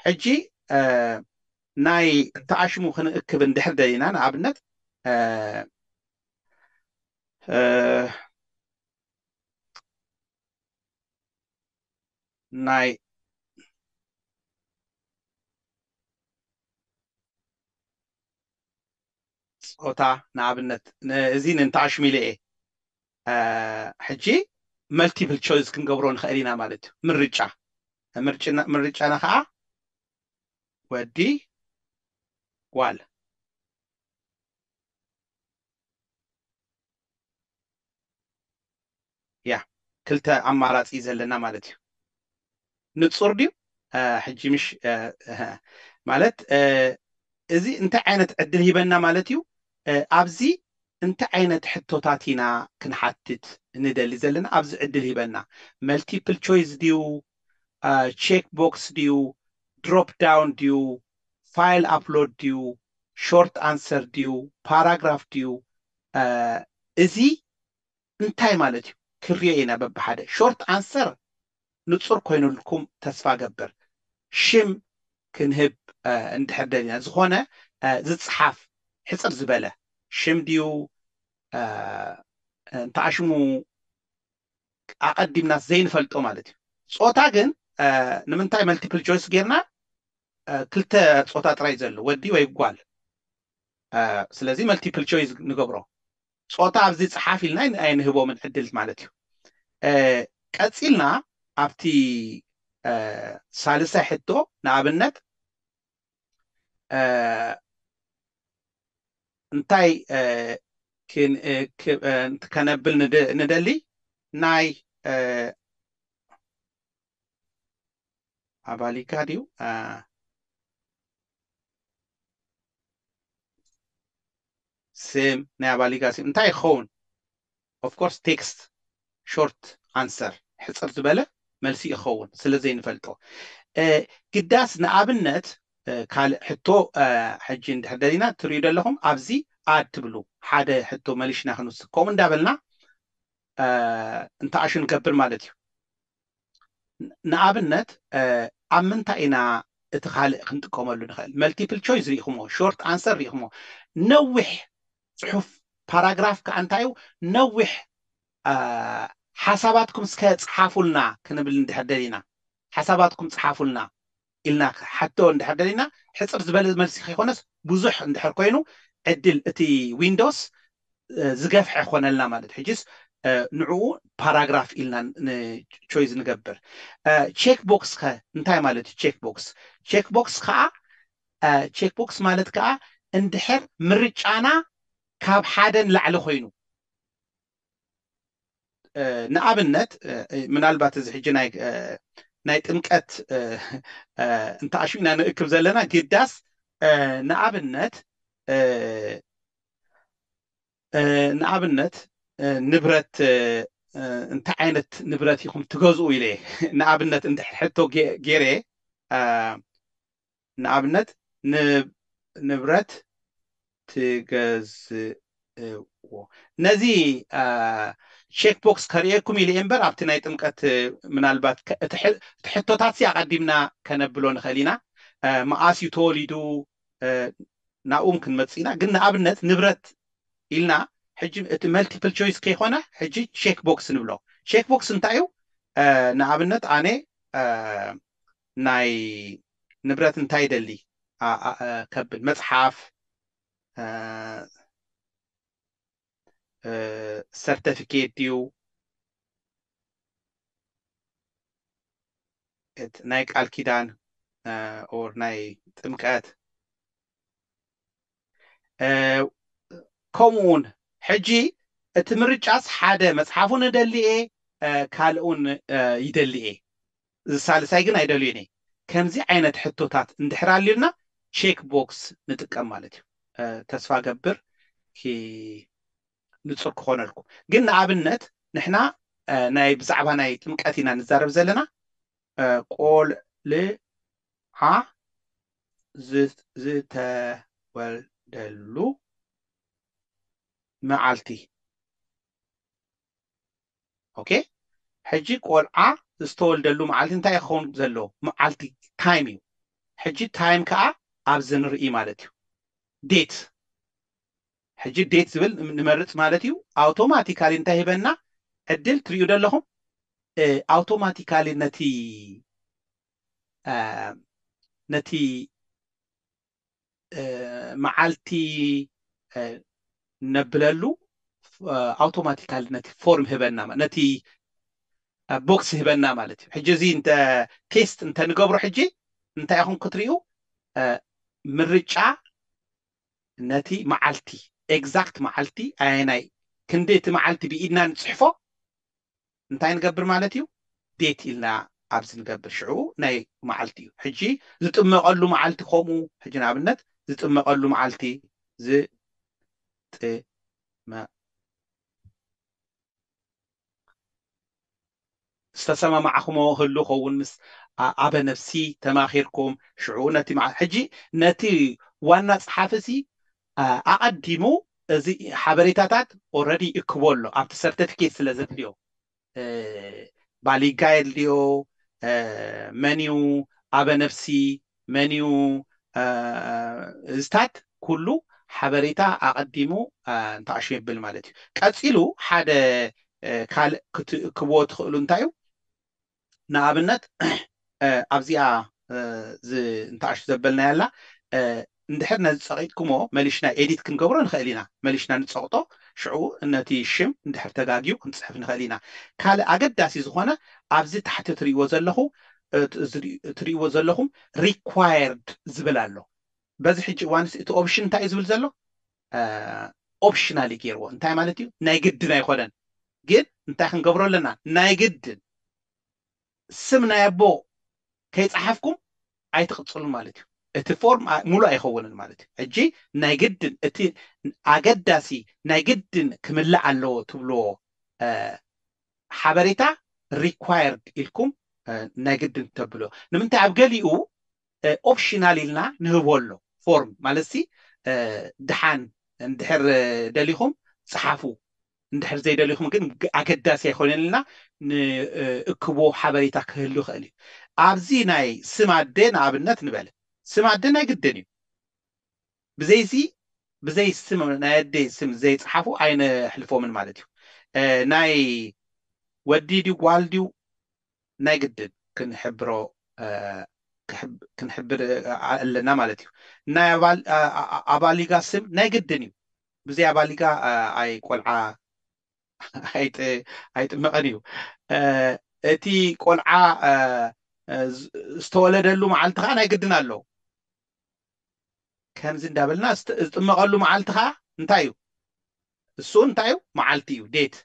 ሕጂ ናይ እተኣሽሙ ክንእክብ እንድሕር ደሊና ንኣብነት ናይ ጾታ ንኣብነት እዚ ንንታሽ ሚለ እየ ሕጂ መልቲፕል ቾይዝ ክንገብሮ ንኸእል ኢና ማለት እዩ ምርጫ ምርጫና ከኣ ወዲ ጓል ያ ክልተ ኣማራጺ እዩ ዘለና ማለት እዩ ንጹር ድዩ ሕጂ ምሽ ማለት እዚ እንታይ ዓይነት ዕድል ሂበና ማለት እዩ ኣብዚ እንታይ ዓይነት ሕቶታት ኢና ክንሓትት ንደሊ ዘለና ኣብዚ ዕድል ሂበና መልቲፕል ቾይስ ድዩ ቼክ ቦክስ ድዩ ድሮፕ ዳውን ድዩ ፋይል ኣፕሎድ ድዩ ሾርት ኣንሰር ድዩ ፓራግራፍ ድዩ እዚ እንታይ ማለት እዩ ክንሪኦ ኢና በብሓደ ሾርት ኣንሰር ንጹር ኮይኑልኩም ተስፋ እገብር ሽም ክንህብ እንድሕር ደሊና ዝኾነ ዝጽሓፍ ሕጽር ዝበለ ሽም ድዩ እንተኣሽሙ ኣቐዲምናስ ዘይንፈልጦ ማለት እዩ ጾታ ግን ንምንታይ መልቲፕል ቾይስ ጌርና ክልተ ጾታ ጥራይ ዘሎ ወዲ ወይ ጓል ስለዚ መልቲፕል ቾይስ ንገብሮ ጾታ ኣብዚ ጽሓፍ ኢልና ኣይንህቦምን ዕድል ማለት እዩ። ቀጺልና ኣብቲ ሳልሳይ ሕቶ ንኣብነት እንታይ ከነብል ንደሊ ናይ ኣባሊካ ድዩ ስም ናይ ኣባሊጋ ስም እንታይ ክኸውን of course text short answer ሕጽር ዝበለ መልሲ ይኸውን ስለ ዘይንፈልጦ ግዳስ ንኣብነት ካልእ ሕቶ ሕጂ እንድሕር ደሊና ትርእዩ ደለኹም ኣብዚ ኣድ ትብሉ ሓደ ሕቶ መሊሽና ክንውስድ ከምኡ እንዳበልና እንተኣሹ ንገብር ማለት እዩ ንኣብነት ኣብ ምንታይ ኢና እቲ ካልእ ክንጥቀመሉ ንኽእል መልቲፕል ቾይስ ሪኢኹሞ ሾርት ኣንሰር ሪኢኹሞ ነዊሕ ፅሑፍ ፓራግራፍ ከዓ እንታይ እዩ ነዊሕ ሓሳባትኩም እስከ ፀሓፉልና ክንብል እንድሕር ደሊና ሓሳባትኩም ፀሓፉልና ኢልና ክሓቶ እንድሕር ደሊና ሕጽር ዝበለ መልሲ ከይኮነስ ብዙሕ እንድሕር ኮይኑ ዕድል እቲ ዊንዶስ ዝገፍሐ ክኾነልና ማለት እዩ ሕጂስ ንዕኡ ፓራግራፍ ኢልና ንቾይዝ ንገብር ቼክ ቦክስ ከ እንታይ ማለት እዩ ቼክ ቦክስ ቼክ ቦክስ ከኣ ቼክ ቦክስ ማለት ከኣ እንድሕር ምርጫና ካብ ሓደ ንላዕሊ ኮይኑ ንኣብነት ምናልባት እዚ ሕጂ ናይ ጥምቀት እንተኣሹ ኢና ንእክብ ዘለና ግዳስ ንኣብነት ንኣብነት ንብረት እንታይ ዓይነት ንብረት ኢኹም ትገዝኡ ኢለ ንኣብነት ሕቶ ገይረ ንኣብነት ንብረት ትገዝእዎ ነዚ ቼክ ቦክስ ከርእየኩም ኢለ እየ እምበር ኣብቲ ናይ ጥምቀት ምናልባት እቲ ሕቶታት ሲ ኣቐዲምና ከነብሎ ንኽእል ኢና መኣስ እዩ ተወሊዱ ናብኡ እውን ክንመፅእ ኢና ግን ንኣብነት ንብረት ኢልና ሕጂ እቲ መልቲፕል ቾይስ ከይኮነ ሕጂ ቼክ ቦክስ ንብሎ ቼክ ቦክስ እንታይ እዩ ንኣብነት ኣነ ናይ ንብረት እንታይ ይደሊ ከብል መጽሓፍ ሰርተፊኬት ድዩ ናይ ቃል ኪዳን ኦር ናይ ጥምቀት ከምኡ ውን ሕጂ እቲ ምርጫስ ሓደ መጽሓፉን እደሊ እየ ካልእውን ይደሊ እየ እዚ ሳልሳይ ግን ኣይደልዮን እየ ከምዚ ዓይነት ሕቶታት እንድሕር ኣልዩልና ቼክ ቦክስ ንጥቀም ማለት እዩ ተስፋ ገብር ንጹር ክኾነልኩም ግን ንኣብነት ንሕና ናይ ብዛዕባ ናይ ጥምቀት ኢና ንዛረብ ዘለና ቆልዓ ዝተወልደሉ መዓልቲ ኦኬ ሕጂ ቆልዓ ዝተወልደሉ መዓልቲ እንታይ ክኸውን ዘለዎ መዓልቲ ታይም እዩ ሕጂ ታይም ከዓ ኣብዚ ንርኢ ማለት እዩ ዴት ሕጂ ዴት ዝብል ንመርፅ ማለት እዩ ኣውቶማቲካሊ እንታይ ሂበና ዕድል ትሪኡ ዘለኹም ኣውቶማቲካሊ ነቲ ነቲ መዓልቲ ነብለሉ ኣውቶማቲካሊ ነቲ ፎርም ህበና ነቲ ቦክስ ህበና ማለት እዩ ሕጂ እዚ እንተ ቴስት እንተ ንገብሮ ሕጂ እንታይ ኢኹም ክትርእዩ ምርጫ ነቲ መዓልቲ ኤግዛክት መዓልቲ ኣየናይ ክንዲ እቲ መዓልቲ ብኢድና ንፅሕፎ እንታይ ንገብር ማለት እዩ ዴት ኢልና ኣብዚ ንገብር ሽዑ ናይ መዓልቲ እዩ ሕጂ ዝጥመቀሉ መዓልቲ ከምኡ ሕጂ ንኣብነት ዝጥመቀሉ መዓልቲ ዝጥመቀሉ ዝተሰማማዕክሞ ህሉ ከውን ምስ ኣበ ነብሲ ተማኺርኩም ሽዑ ነቲ ሕጂ ነቲ ዋና ጸሓፊ ሲ ኣቐዲሙ እዚ ሓበሬታታት ኦረዲ ይእክቦ ኣሎ ኣብቲ ሰርተፊኬት ስለ ዘድልዮ ባሊጋ የድልዮ መንዩ ኣበነብሲ መንዩ እዝታት ኩሉ ሓበሬታ ኣቐዲሙ እንታኣሹ የብል ማለት እዩ ቀጺሉ ሓደ ካልእ ክትእክብዎ ትኽእሉ እንታዩ ንኣብነት ኣብዚኣ ንታኣሽ ዘበልናያ ኣላ እንድሕር ነዚ ጸቂጥክሞ መሊሽና ኤዲት ክንገብሮ ንክእል ኢና መሊሽና ንጸቅጦ ሽዑ ነቲ ሽም እንድሕር ተጋግዩ ክንጽሕፍ ንክእል ኢና ካልእ ኣገዳሲ ዝኮነ ኣብዚ ታሕቲ ትሪእዎ ዘለኩ ትሪእዎ ዘለኩም Required ዝብል ኣሎ በዚ ሕጂ እዋንስ እቲ ኦብሽን እንታይ እዩ ዝብል ዘሎ ኦፕሽናል እዩ ገይርዎ እንታይ ማለት እዩ ናይ ግድን ኣይኮነን ግን እንታይ ክንገብሮ ኣለና ናይ ግድን ስም ናይ ኣቦ ከይፀሓፍኩም ኣይትቕፅሉን ማለት እዩ እቲ ፎርም ሙሉ ኣይኸውንን ማለት እዩ ሕጂ ናይ ግድን እቲ ኣገዳሲ ናይ ግድን ክምላእ ኣለዎ ትብልዎ ሓበሬታ ሪኳየርድ ኢልኩም ናይ ግድን ተብሎ ንምንታይ ኣብ ገሊኡ ኦፕሽናል ኢልና ንህቦ ኣሎ ፎርም ማለትሲ ድሓን እንድሕር ደሊኹም ጽሓፉ እንድሕር ዘይደሊኹም ግን ኣገዳሲ ኣይኮነን ኢልና ንእክቦ ሓበሬታ ክህሉ ይኽእል እዩ ኣብዚ ናይ ስም ኣደ ንኣብነት ንበል ስም ኣደ ናይ ግድን እዩ ብዘይዚ ብዘይ ስም ናይ ኣደይ ስም ዘይጸሓፉ ኣይነሕልፎምን ማለት እዩ ናይ ወዲ ድዩ ጓል ድዩ ናይ ግድን ክንሕብሮ ክንሕብር ኣለና ማለት እዩ ናይ ኣባሊጋ ስም ናይ ግድን እዩ ብዘይ ኣባሊጋ ኣይ ቆልዓ ኣይጥመቐን እዩ እቲ ቆልዓ ዝተወለደሉ መዓልቲ ከዓ ናይ ግድን ኣሎ ከምዚ እንዳበልና እስቲ ዝጥመቐሉ መዓልቲ ከኣ እንታይ እዩ? እሱ እውን እንታይ እዩ? መዓልቲ እዩ፣ date።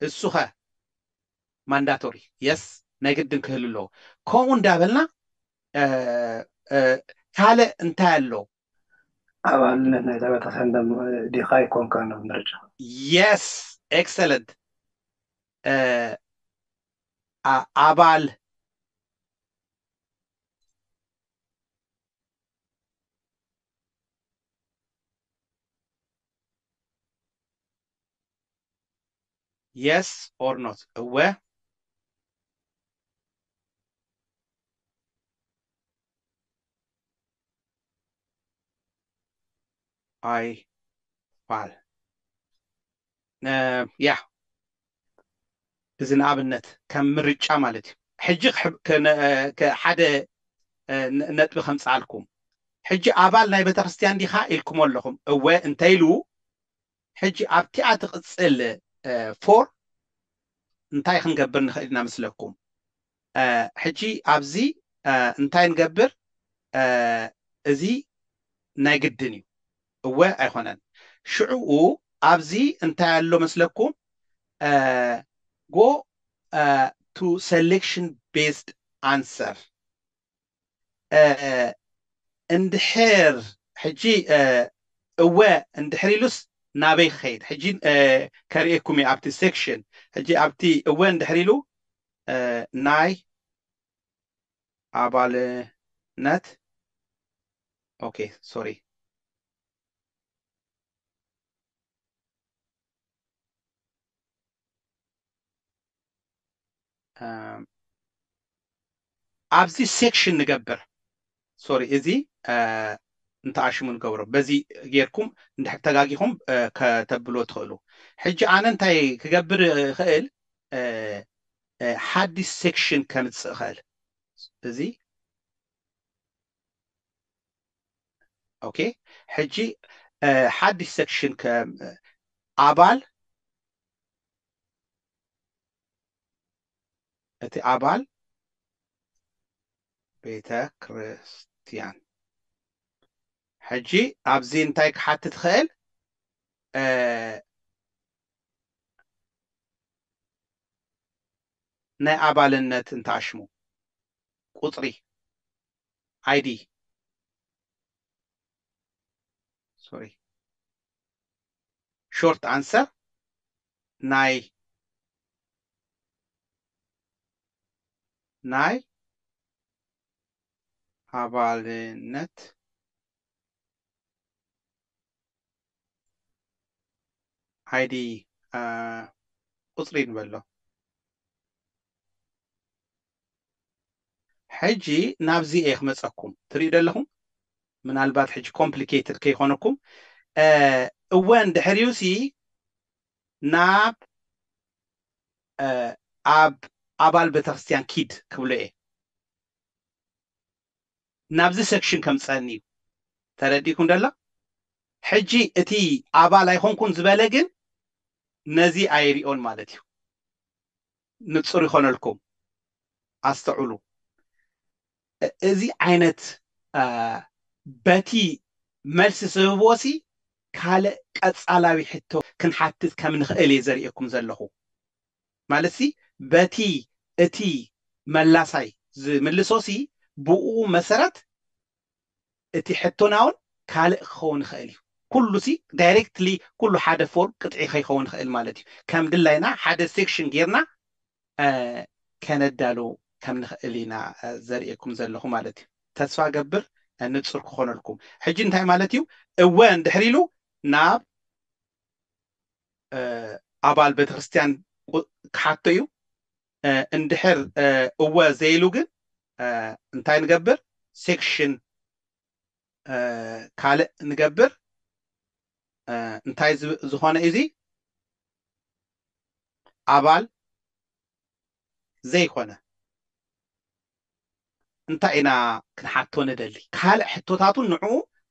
እሱኸ? Mandatory፣ yes፣ ናይ ግድን ክህሉ ኣለዎ። ከምኡ እንዳበልና ካልእ እንታይ ኣሎ? ኣባልነት ናይታ ቤተክርስቲያን ዲኻ ኣይኮንካን ኣብ ምርጫ። Yes፣ excellent፣ ኣባል የስ ኦር ኖት እወ ኣይፋል ያህ እዚ ንኣብነት ከም ምርጫ ማለት እዩ ሕጂ ሓደ ነጥቢ ከምጽኣልኩም ሕጂ ኣባል ናይ ቤተክርስትያን ዲኻ ኢልኩሞ ኣለኹም እወ እንተኢሉ ሕጂ ኣብቲኣ ትቕጽል ፎር እንታይ ክንገብር ንኽእል ኢና መስለኩም ሕጂ ኣብዚ እንታይ ንገብር እዚ ናይ ግድን እዩ እወ ኣይኮነን ሽዑኡ ኣብዚ እንታይ ኣሎ መስለኩም go to selection based answer እንድሕር ሕጂ እወ እንድሕር ኢሉስ ናበይ ክኸይድ ሕጂ ከርእየኩም እየ ኣብቲ ሴክሽን ሕጂ ኣብቲ እወ እንድሕር ኢሉ ናይ ኣባልነት ኦኬ ሶሪ ኣብዚ ሴክሽን ንገብር ሶሪ እዚ እንተኣሽሙ ንገብሮ በዚ ጌርኩም እንድሕር ተጋጊኹም ከተብሎ ትኽእሉ ሕጂ ኣነ እንታይ ክገብር እኽእል ሓዲስ ሴክሽን ከምጽእ እኽእል እዚ ኦኬ ሕጂ ሓዲስ ሴክሽን ኣባል እቲ ኣባል ቤተ ክርስትያን ሕጂ ኣብዚ እንታይ ክሓትት ይኽእል ናይ ኣባልነት እንተኣሽሙ ቁፅሪ ኣይዲ ሶሪ ሾርት ኣንሰር ናይ ናይ ኣባልነት ኣይዲ ቁፅሪ ንበሎ። ሕጂ ናብዚ እየ ክመጸኩም ትሪኡ ዶ ኣለኹም ምናልባት ሕጂ ኮምፕሊኬትድ ከይኾነኩም እወ እንድሕሪዩሲ ናብ ኣብ ኣባል ቤተክርስትያን ኪድ ክብሎ እየ ናብዚ ሰክሽን ከምጸእኒ እዩ ተረዲእኩም ዶ ኣሎ ሕጂ እቲ ኣባል ኣይኾንኩን ዝበለ ግን ነዚ ኣይሪኦን ማለት እዩ ንጹር ይኾነልኩም ኣስተውዕሉ እዚ ዓይነት በቲ መልሲ ዝህብዎሲ ካልእ ቀጻላዊ ሕቶ ክንሓትት ከም ንኽእል እየ ዘርእየኩም ዘለኹ ማለትሲ በቲ እቲ መላሳይ ዝምልሶሲ ብኡ መሰረት እቲ ሕቶና ውን ካልእ ክኸውን ይኸእል እዩ። ኩሉሲ ዳይሬክትሊ ኩሉ ሓደ ፎርም ቅጥዒ ከይኸውን ይኸእል ማለት እዩ። ከም ድላይና ሓደ ሴክሽን ጌርና ከነዳሉ ከም ንኸእል ኢና ዘርእየኩም ዘለኹ ማለት እዩ። ተስፋ እገብር ንጹር ክኾነልኩም። ሕጂ እንታይ ማለት እዩ እወ እንድሕር ኢሉ ናብ ኣባል ቤተክርስትያን ክሓቶ እዩ። እንድሕር እወ ዘይሉ ግን እንታይ ንገብር ሴክሽን ካልእ ንገብር እንታይ ዝኾነ እዩ እዙይ ኣባል ዘይኮነ እንታይ ኢና ክንሓቶ ንደሊ? ካልእ ሕቶታት'ውን ንዕኡ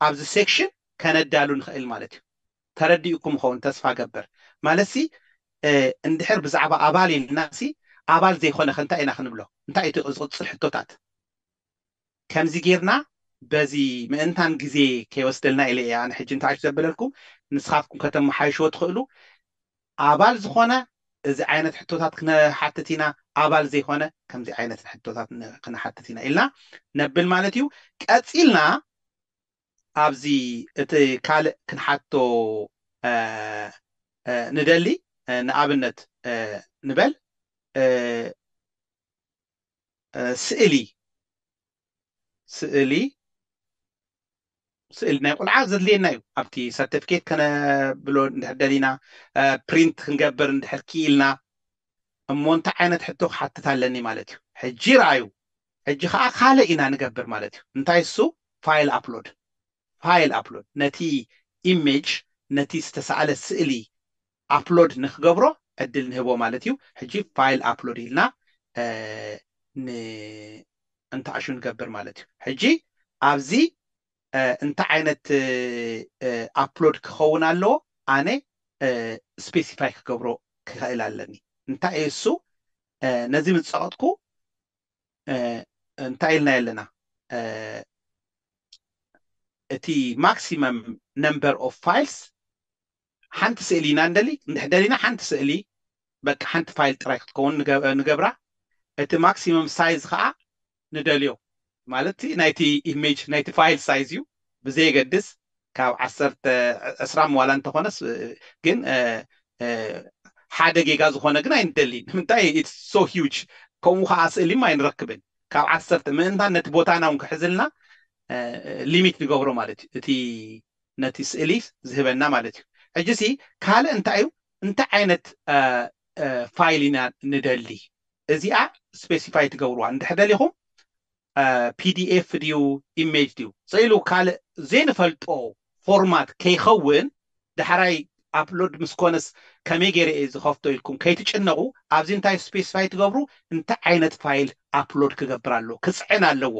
ኣብዚ ሴክሽን ከነዳሉ ንኽእል ማለት እዩ። ተረዲኡኩም ይኸውን ተስፋ እገብር። ማለትሲ እንድሕር ብዛዕባ ኣባል ኢልናሲ ኣባል ዘይኮነኸ እንታይ ኢና ክንብሎ? እንታይ እዩ እቲ ዝቕጽል ሕቶታት? ከምዚ ጌርና በዚ ምእንታን ግዜ ከይወስደልና ኢለ እየ ኣነ ሕጂ ንታሕቱ ዘበለልኩም፣ ንስኻትኩም ከተመሓይሽዎ ትኽእሉ። ኣባል ዝኾነ እዚ ዓይነት ሕቶታት ክነሓትት ኢና፣ ኣባል ዘይኮነ ከምዚ ዓይነት ሕቶታት ክነሓትት ኢና ኢልና ነብል ማለት እዩ። ቀጺልና ኣብዚ እቲ ካልእ ክንሓቶ ንደሊ ንኣብነት ንበል ስእሊ ስእሊ ስእሊ ናይ ቁልዓ ዘድልየና እዩ ኣብቲ ሰርተፍኬት ከነብሎ እንድሕር ደሊና ፕሪንት ክንገብር እንድሕር ክኢልና እሞ እንታይ ዓይነት ሕቶ ክሓትት ኣለኒ ማለት እዩ ሕጂ ረኣዩ ሕጂ ከዓ ካልእ ኢና ንገብር ማለት እዩ እንታይ እሱ ፋይል ኣፕሎድ ፋይል ኣፕሎድ ነቲ ኢሜጅ ነቲ ዝተሰኣለ ስእሊ ኣፕሎድ ንክገብሮ ዕድል ንህቦ ማለት እዩ ሕጂ ፋይል ኣፕሎድ ኢልና ን እንተኣሹ ንገብር ማለት እዩ ሕጂ ኣብዚ እንታይ ዓይነት ኣፕሎድ ክኸውን ኣለዎ ኣነ ስፔሲፋይ ክገብሮ ክኽእል ኣለኒ እንታይ እዩ እሱ ነዚ ምስ ጸቐጥኩ እንታይ ኢልና ኣለና እቲ ማክሲመም ነምበር ኦፍ ፋይልስ ሓንቲ ስእሊ ኢና ንደሊ እንድሕር ደሊና ሓንቲ ስእሊ በቃ ሓንቲ ፋይል ጥራይ ክትከውን ንገብራ እቲ ማክሲመም ሳይዝ ከኣ ንደልዮ ማለት ናይቲ ኢሜጅ ናይቲ ፋይል ሳይዝ እዩ ብዘየገድስ ካብ ዓሰርተ ዕስራ ዋላ እንተኾነስ ግን ሓደ ጌጋ ዝኾነ ግን ኣይንደሊን ንምንታይ ኢትስ ሶ ሂውጅ ከምኡ ከኣ ስእሊም ኣይንረክብን ካብ ዓሰርተ ምእንታን ነቲ ቦታና እውን ክሕዝልና ሊሚት ንገብሮ ማለት እዩ እቲ ነቲ ስእሊ ዝህበና ማለት እዩ። ሕጂሲ ካልእ እንታይ እዩ እንታይ ዓይነት ፋይል ኢና ንደሊ እዚኣ ስፔሲፋይ ትገብርዋ እንድሕር ደሊኹም ፒዲኤፍ ድዩ ኢሜጅ ድዩ ስኢሉ ካልእ ዘይንፈልጦ ፎርማት ከይኸውን ዳሕራይ ኣፕሎድ ምስ ኮነስ ከመይ ገይረ እየ ዝኸፍቶ ኢልኩም ከይትጭነቑ ኣብዚ እንታይ ስፔሲፋይ ትገብሩ እንታይ ዓይነት ፋይል ኣፕሎድ ክገብር ኣለዎ ክፅዕን ኣለዎ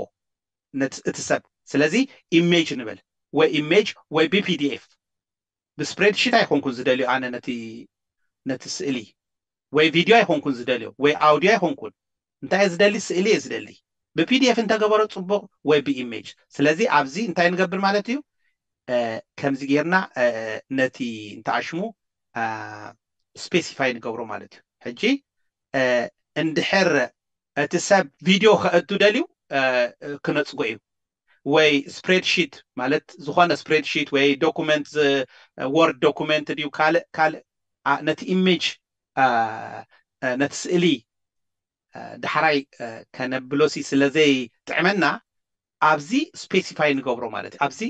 ነት እቲ ሰብ ስለዚ ኢሜጅ ንበል ወይ ኢሜጅ ወይ ብፒዲኤፍ ብስፕሬድሺት ኣይኮንኩን ዝደልዮ ኣነ ነቲ ነቲ ስእሊ ወይ ቪድዮ ኣይኮንኩን ዝደልዮ ወይ ኣውድዮ ኣይኮንኩን እንታይ እየ ዝደሊ ስእሊ እየ ዝደሊ ብፒዲኤፍ እንተገበሮ ጽቡቕ ወይ ብኢሜጅ ስለዚ ኣብዚ እንታይ ንገብር ማለት እዩ ከምዚ ጌርና ነቲ እንታይ ሽሙ ስፔሲፋይ ንገብሮ ማለት እዩ ሕጂ እንድሕር እቲ ሰብ ቪድዮ ከእቱ ደልዩ ክነጽጎ እዩ ወይ ስፕሬድ ሺት ማለት ዝኾነ ስፕሬድ ሺት ወይ ዶኩመንት ወርድ ዶኩመንት ድዩ ካልእ ካልእ ነቲ ኢሜጅ ነቲ ስእሊ ዳሕራይ ከነብሎሲ ስለዘይጥዕመና ኣብዚ ስፔሲፋይ ንገብሮ ማለት እዩ ኣብዚ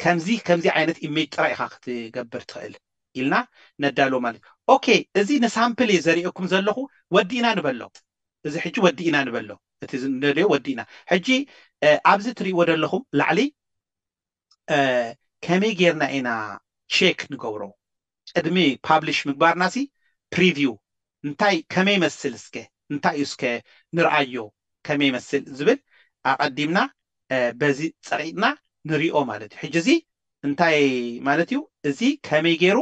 ከምዚ ከምዚ ዓይነት ኢሜጅ ጥራይ ኢኻ ክትገብር ትኽእል ኢልና ነዳልዎ ማለት እዩ ኦኬ እዚ ንሳምፕል እየ ዘርእየኩም ዘለኹ ወዲእና ንበሎ እዚ ሕጂ ወዲእና ንበሎ እቲ ንደልዮ ወዲእና ሕጂ ኣብዚ ትርእይዎ ዘለኹም ላዕሊ ከመይ ጌርና ኢና ቼክ ንገብሮ ቅድሚ ፓብሊሽ ምግባርና ሲ ፕሪቪው እንታይ ከመይ ይመስል እስከ እንታይ እዩ እስከ ንርኣዮ ከመይ ይመስል ዝብል ኣቀዲምና በዚ ጸቂጥና ንሪኦ ማለት እዩ ሕጂ እዚ እንታይ ማለት እዩ እዚ ከመይ ጌሩ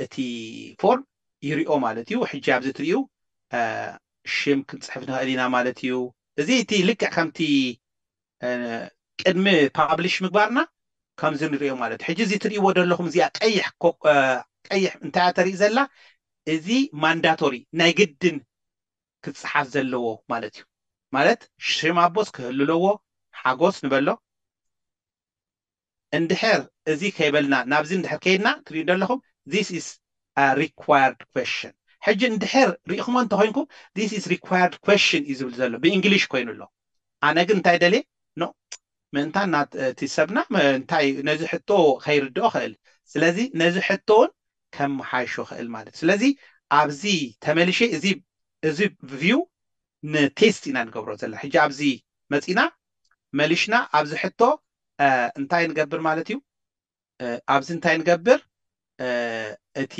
እቲ ፎርም ይሪኦ ማለት እዩ ሕጂ ኣብዚ ትሪኡ ሽም ክንጽሕፍ ንኽእል ኢና ማለት እዩ እዚ እቲ ልክዕ ከምቲ ቅድሚ ፓብሊሽ ምግባርና ከምዚ ንሪኦ ማለት እዩ ሕጂ እዚ ትሪእዎ ዘለኹም እዚኣ ቀይሕ ቀይሕ እንታይ እያ ተርኢ ዘላ እዚ ማንዳቶሪ ናይ ግድን ክጽሓፍ ዘለዎ ማለት እዩ ማለት ሽም ኣቦስ ክህሉ ኣለዎ ሓጎስ ንበሎ እንድሕር እዚ ከይበልና ናብዚ እንድሕር ከይድና ትሪኡ ዶ ኣለኹም this is a required question ሕጂ እንድሕር ሪኢኹሞ እንተኾይንኩም this is required question እዩ ዝብል ዘሎ ብእንግሊሽ ኮይኑ ኣሎ ኣነ ግን እንታይ ደልየ no ምእንታን ናት እቲ ሰብና እንታይ ነዚ ሕቶ ከይርድኦ ክእል ስለዚ ነዚ ሕቶ እውን ከመሓይሾ ክእል ማለት እዩ ስለዚ ኣብዚ ተመልሼ እዚ እዚ view ን ቴስት ኢና ንገብሮ ዘለና ሕጂ ኣብዚ መጺና መሊሽና ኣብዚ ሕቶ እንታይ ንገብር ማለት እዩ ኣብዚ እንታይ ንገብር እቲ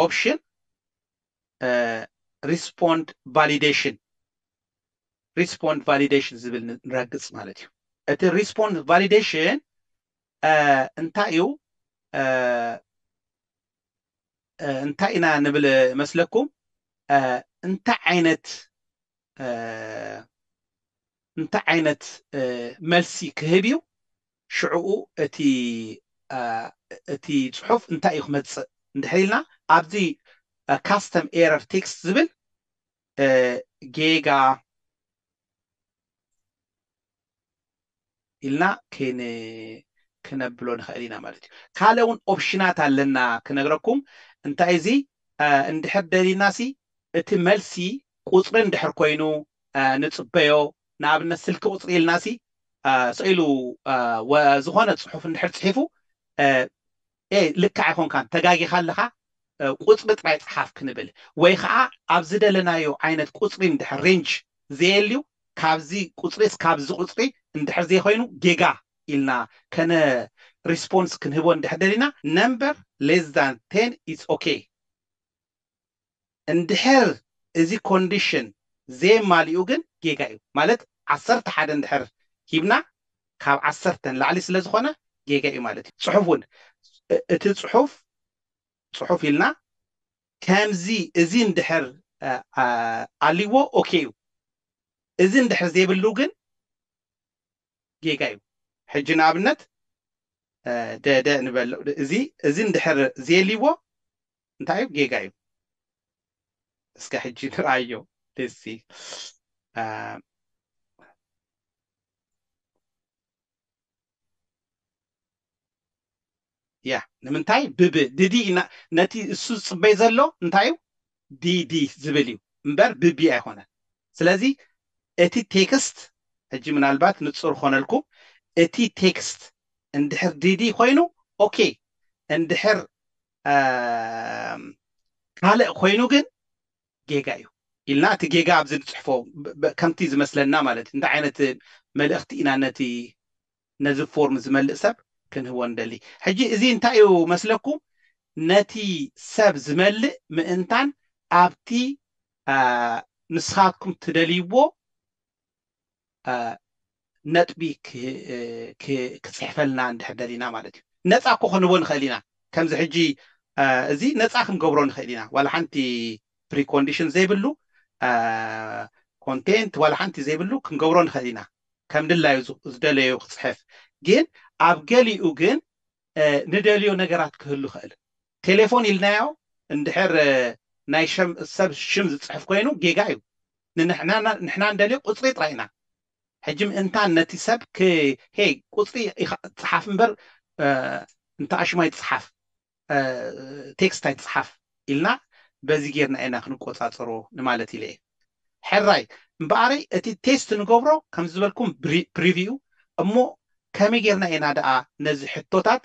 ኦፕሽን ሪስፖንድ ቫሊደሽን ሪስፖንድ ቫሊደሽን ዝብል ንረግጽ ማለት እዩ እቲ ሪስፖንድ ቫሊደሽን እንታይ እዩ እንታይ ኢና ንብል መስለኩም እንታይ ዓይነት እንታይ ዓይነት መልሲ ክህብ እዩ ሽዕኡ እቲ እቲ ጽሑፍ እንታይ እዩ ክመጽእ እንድሕር ኢልና ኣብዚ ካስተም ኤረር ቴክስት ዝብል ጌጋ ኢልና ክነብሎ ንክእል ኢና ማለት እዩ ካልእ እውን ኦፕሽናት ኣለና ክነግረኩም እንታይ እዚ እንድሕር ደሊና ሲ እቲ መልሲ ቁፅሪ እንድሕር ኮይኑ ንፅበዮ ንኣብነት ስልኪ ቁፅሪ ኢልና ሲ ሰኢሉ ዝኮነ ፅሑፍ እንድሕር ፅሒፉ ኤህ ልክዕ ኣይኮንካን ተጋጊኻ ኣለኻ ቁጽሪ ጥራይ ጽሓፍ ክንብል ወይ ከኣ ኣብ ዝደለናዮ ዓይነት ቁጽሪ እንድሕር ሬንጅ ዘየልዩ ካብዚ ቁጽሪ ስካብ እዚ ቁጽሪ እንድሕር ዘይኮይኑ ጌጋ ኢልና ከነ ሪስፖንስ ክንህቦ እንድሕር ደሊና ነምበር ሌስ ዛን ቴን ኢትስ ኦኬ። እንድሕር እዚ ኮንዲሽን ዘየማሊኡ ግን ጌጋ እዩ ማለት ዓሰርተ ሓደ እንድሕር ሂብና ካብ ዓሰርተ ንላዕሊ ስለ ዝኾነ ጌጋ እዩ ማለት እዩ። ጽሑፍ ውን እቲ ጽሑፍ ጽሑፍ ኢልና ከምዚ እዚ እንድሕር ኣልዎ ኦኬ እዩ እዚ እንድሕር ዘይብሉ ግን ጌጋ እዩ ሕጂ ንኣብነት ደደ ንበል እዚ እዚ እንድሕር ዘየልዎ እንታይ እዩ ጌጋ እዩ እስከ ሕጂ ንርኣዮ ሌሲ ያ ንምንታይ ብብ ድዲ ኢና ነቲ እሱ ዝፅበይ ዘሎ እንታይ እዩ ዲዲ ዝብል እዩ እምበር ብቢ ኣይኮነን ስለዚ እቲ ቴክስት ሕጂ ምናልባት ንፁር ኮነልኩም እቲ ቴክስት እንድሕር ዲዲ ኮይኑ ኦኬ እንድሕር ካልእ ኮይኑ ግን ጌጋ እዩ ኢልና እቲ ጌጋ ኣብዚ ንጽሕፎ ከምቲ ዝመስለና ማለት እዩ እንታይ ዓይነት መልእኽቲ ኢና ነቲ ነዚ ፎርም ዝመልእ ሰብ ክንህቦ ንደሊ ሕጂ እዚ እንታይ እዩ መስለኩም ነቲ ሰብ ዝመልእ ምእንታን ኣብቲ ንስኻትኩም ትደልይዎ ነጥቢ ክጽሕፈልና እንድሕር ደሊና ማለት እዩ። ነጻ እኮ ክንህቦ ንኽእል ኢና። ከምዚ ሕጂ እዚ ነጻ ክንገብሮ ንኽእል ኢና። ዋላ ሓንቲ ፕሪኮንዲሽን ዘይብሉ ኮንቴንት ዋላ ሓንቲ ዘይብሉ ክንገብሮ ንኽእል ኢና። ከም ድላዩ ዝደለዮ ክጽሕፍ። ግን ኣብ ገሊኡ ግን ንደልዮ ነገራት ክህሉ ይኽእል። ቴሌፎን ኢልናዮ እንድሕር ናይ ሰብ ሽም ዝጽሕፍ ኮይኑ ጌጋ እዩ ንሕና እንደልዮ ቁጽሪ ጥራይ ኢና ሕጂ ምእንታን ነቲ ሰብ ክ ሄይ ቁጽሪ ኢካ ጽሓፍ እምበር እንተ ኣሽሙ ኣይትጽሓፍ ቴክስት ኣይትጽሓፍ ኢልና በዚ ጌርና ኢና ክንቆጻጸሮ ንማለት ኢለ እየ ሕራይ እምበኣረይ እቲ ቴስት ንገብሮ ከም ዝበልኩም ፕሪቪው እሞ ከመይ ጌርና ኢና ደኣ ነዚ ሕቶታት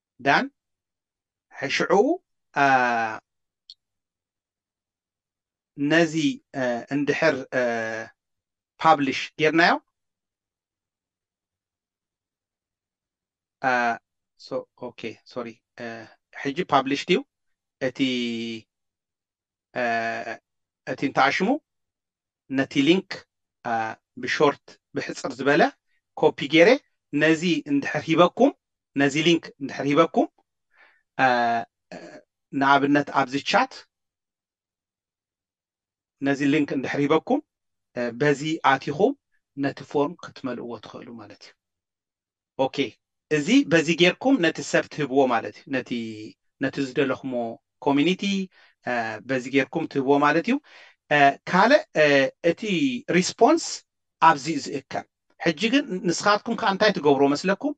ዳን ሽዑ ነዚ እንድሕር ፓብሊሽ ጌርናዮ ኦኬ ሶሪ ሕጂ ፓብሊሽ ድዩ እቲ እቲ እንተኣሽሙ ነቲ ሊንክ ብሾርት ብሕጽር ዝበለ ኮፒ ጌረ ነዚ እንድሕር ሂበኩም ነዚ ሊንክ እንድሕር ሂበኩም ንኣብነት ኣብዚ ቻት ነዚ ሊንክ እንድሕር ሂበኩም በዚ ኣቲኹም ነቲ ፎርም ክትመልእዎ ትኽእሉ ማለት እዩ። ኦኬ እዚ በዚ ጌርኩም ነቲ ሰብ ትህብዎ ማለት እዩ ነቲ ነቲ ዝደለኹሞ ኮሚኒቲ በዚ ጌርኩም ትህብዎ ማለት እዩ ካልእ እቲ ሪስፖንስ ኣብዚ እዩ ዝእከብ ሕጂ ግን ንስኻትኩም ከ እንታይ ትገብርዎ መስለኩም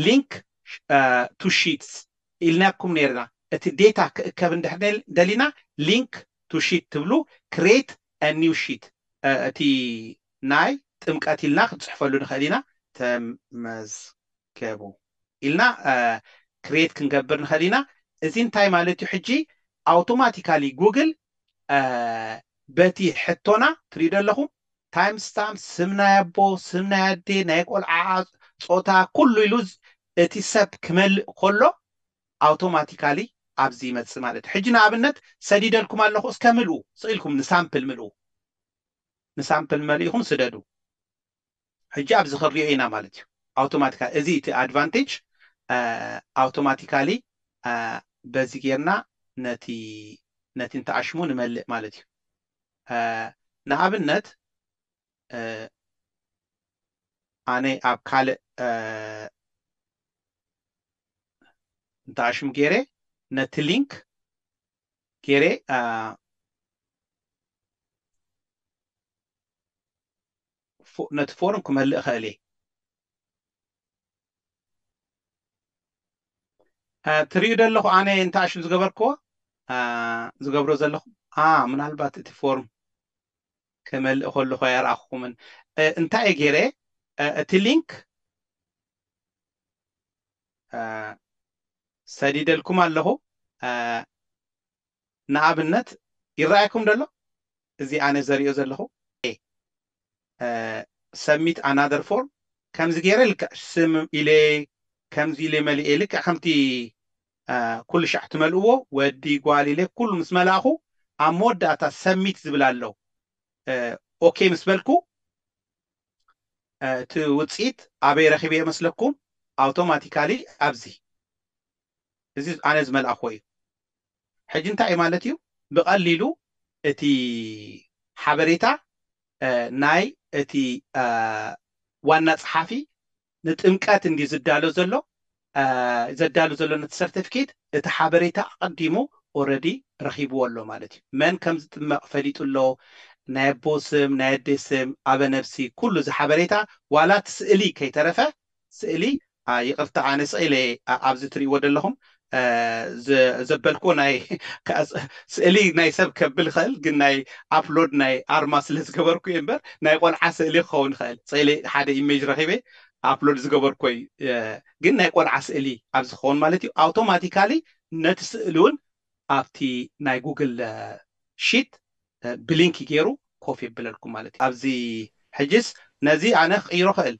ሊንክ ቱ ሺትስ ኢልናኩም ነይርና እቲ ዴታ ክእከብ እንድሕር ደሊና ሊንክ ቱ ሺት ትብሉ ክሬት ኒው ሺት እቲ ናይ ጥምቀት ኢልና ክንጽሕፈሉ ንኽእል ኢና። ተመዝገቡ ኢልና ክሬት ክንገብር ንኽእል ኢና። እዚ እንታይ ማለት እዩ ሕጂ ኣውቶማቲካሊ ጉግል በቲ ሕቶና ትሪኡ ዶ ኣለኹም ታይም ስታምፕ ስም ናይ ኣቦ ስም ናይ ኣዴ ናይ ቆልዓኣ ጾታ ኩሉ ኢሉ እቲ ሰብ ክመልእ ከሎ ኣውቶማቲካሊ ኣብዚ ይመጽእ ማለት እዩ። ሕጂ ንኣብነት ሰዲደልኩም ኣለኹ እስከ ምልኡ ስቅ ኢልኩም ንሳምፕል ምልኡ። ንሳምፕል መሊእኹም ስደዱ ሕጂ ኣብዚ ክንሪኦ ኢና ማለት እዩ ኣውቶማቲካሊ እዚ እቲ ኣድቫንቴጅ ኣውቶማቲካሊ በዚ ጌርና ነቲ ነቲ እንተኣሽሙ ንመልእ ማለት እዩ ንኣብነት ኣነ ኣብ ካልእ እንተኣሽሙ ገይረ ነቲ ሊንክ ገይረ ነቲ ፎርም ክመልእ እኽእል እየ ትርእዩ ዘለኹ ኣነ እንተኣሽም ዝገበርክዎ ዝገብሮ ዘለኹ ምናልባት እቲ ፎርም ክመልእ ከለኹ ኣይረኣኹምን እንታይ እየ ገይረ እቲ ሊንክ ሰዲደልኩም ኣለኹ። ንኣብነት ይረኣየኩም ደሎ እዚ ኣነ ዘሪኦ ዘለኹ ኤ ሰብሚት ኣናደር ፎርም ከምዚ ገይረ ልክዕ ስም ኢለ ከምዚ ኢለ መሊኤ ልክዕ ከምቲ ኩሉ ሻዕ ትመልእዎ ወዲ ጓል ኢለ ኩሉ ምስ መላእኹ ኣብ መወዳእታ ሰብሚት ዝብል ኣሎ ኦኬ ምስ በልኩ እቲ ውጽኢት ኣበይ ረኺበዮ መስለኩም ኣውቶማቲካሊ ኣብዚ እዚ ኣነ ዝመልኣኽዎ እዩ ሕጂ እንታይ እዩ ማለት እዩ ብቐሊሉ እቲ ሓበሬታ ናይ እቲ ዋና ጸሓፊ ንጥምቀት እንድዩ ዝዳሎ ዘሎ ዘዳሉ ዘሎ ነቲ ሰርተፍኬት እቲ ሓበሬታ ኣቐዲሙ ኦረዲ ረኺብዎ ኣሎ ማለት እዩ መን ከም ዝጥመቕ ፈሊጡ ኣሎ ናይ ኣቦ ስም ናይ ኣዴ ስም ኣበ ነብሲ ኩሉ እዚ ሓበሬታ ዋላ እቲ ስእሊ ከይተረፈ ስእሊ ይቕርታ ኣነ ስቕ ኢለ እየ ኣብዚ ትርእይዎ ዘለኹም ዘበልክዎ ናይ ስእሊ ናይ ሰብ ከብል ይኽእል ግን ናይ ኣፕሎድ ናይ ኣርማ ስለ ዝገበርኩ እየ እምበር ናይ ቆልዓ ስእሊ ክኸውን ይኽእል ፅእሊ ሓደ ኢሜጅ ረኺበ ኣፕሎድ ዝገበርኮ እዩ ግን ናይ ቆልዓ ስእሊ ኣብዚ ክኸውን ማለት እዩ ኣውቶማቲካሊ ነቲ ስእሊ እውን ኣብቲ ናይ ጉግል ሺት ብሊንክ ገይሩ ኮፍ የብለልኩም ማለት እዩ ኣብዚ ሕጅስ ነዚ ኣነ ክቅይሮ ክእል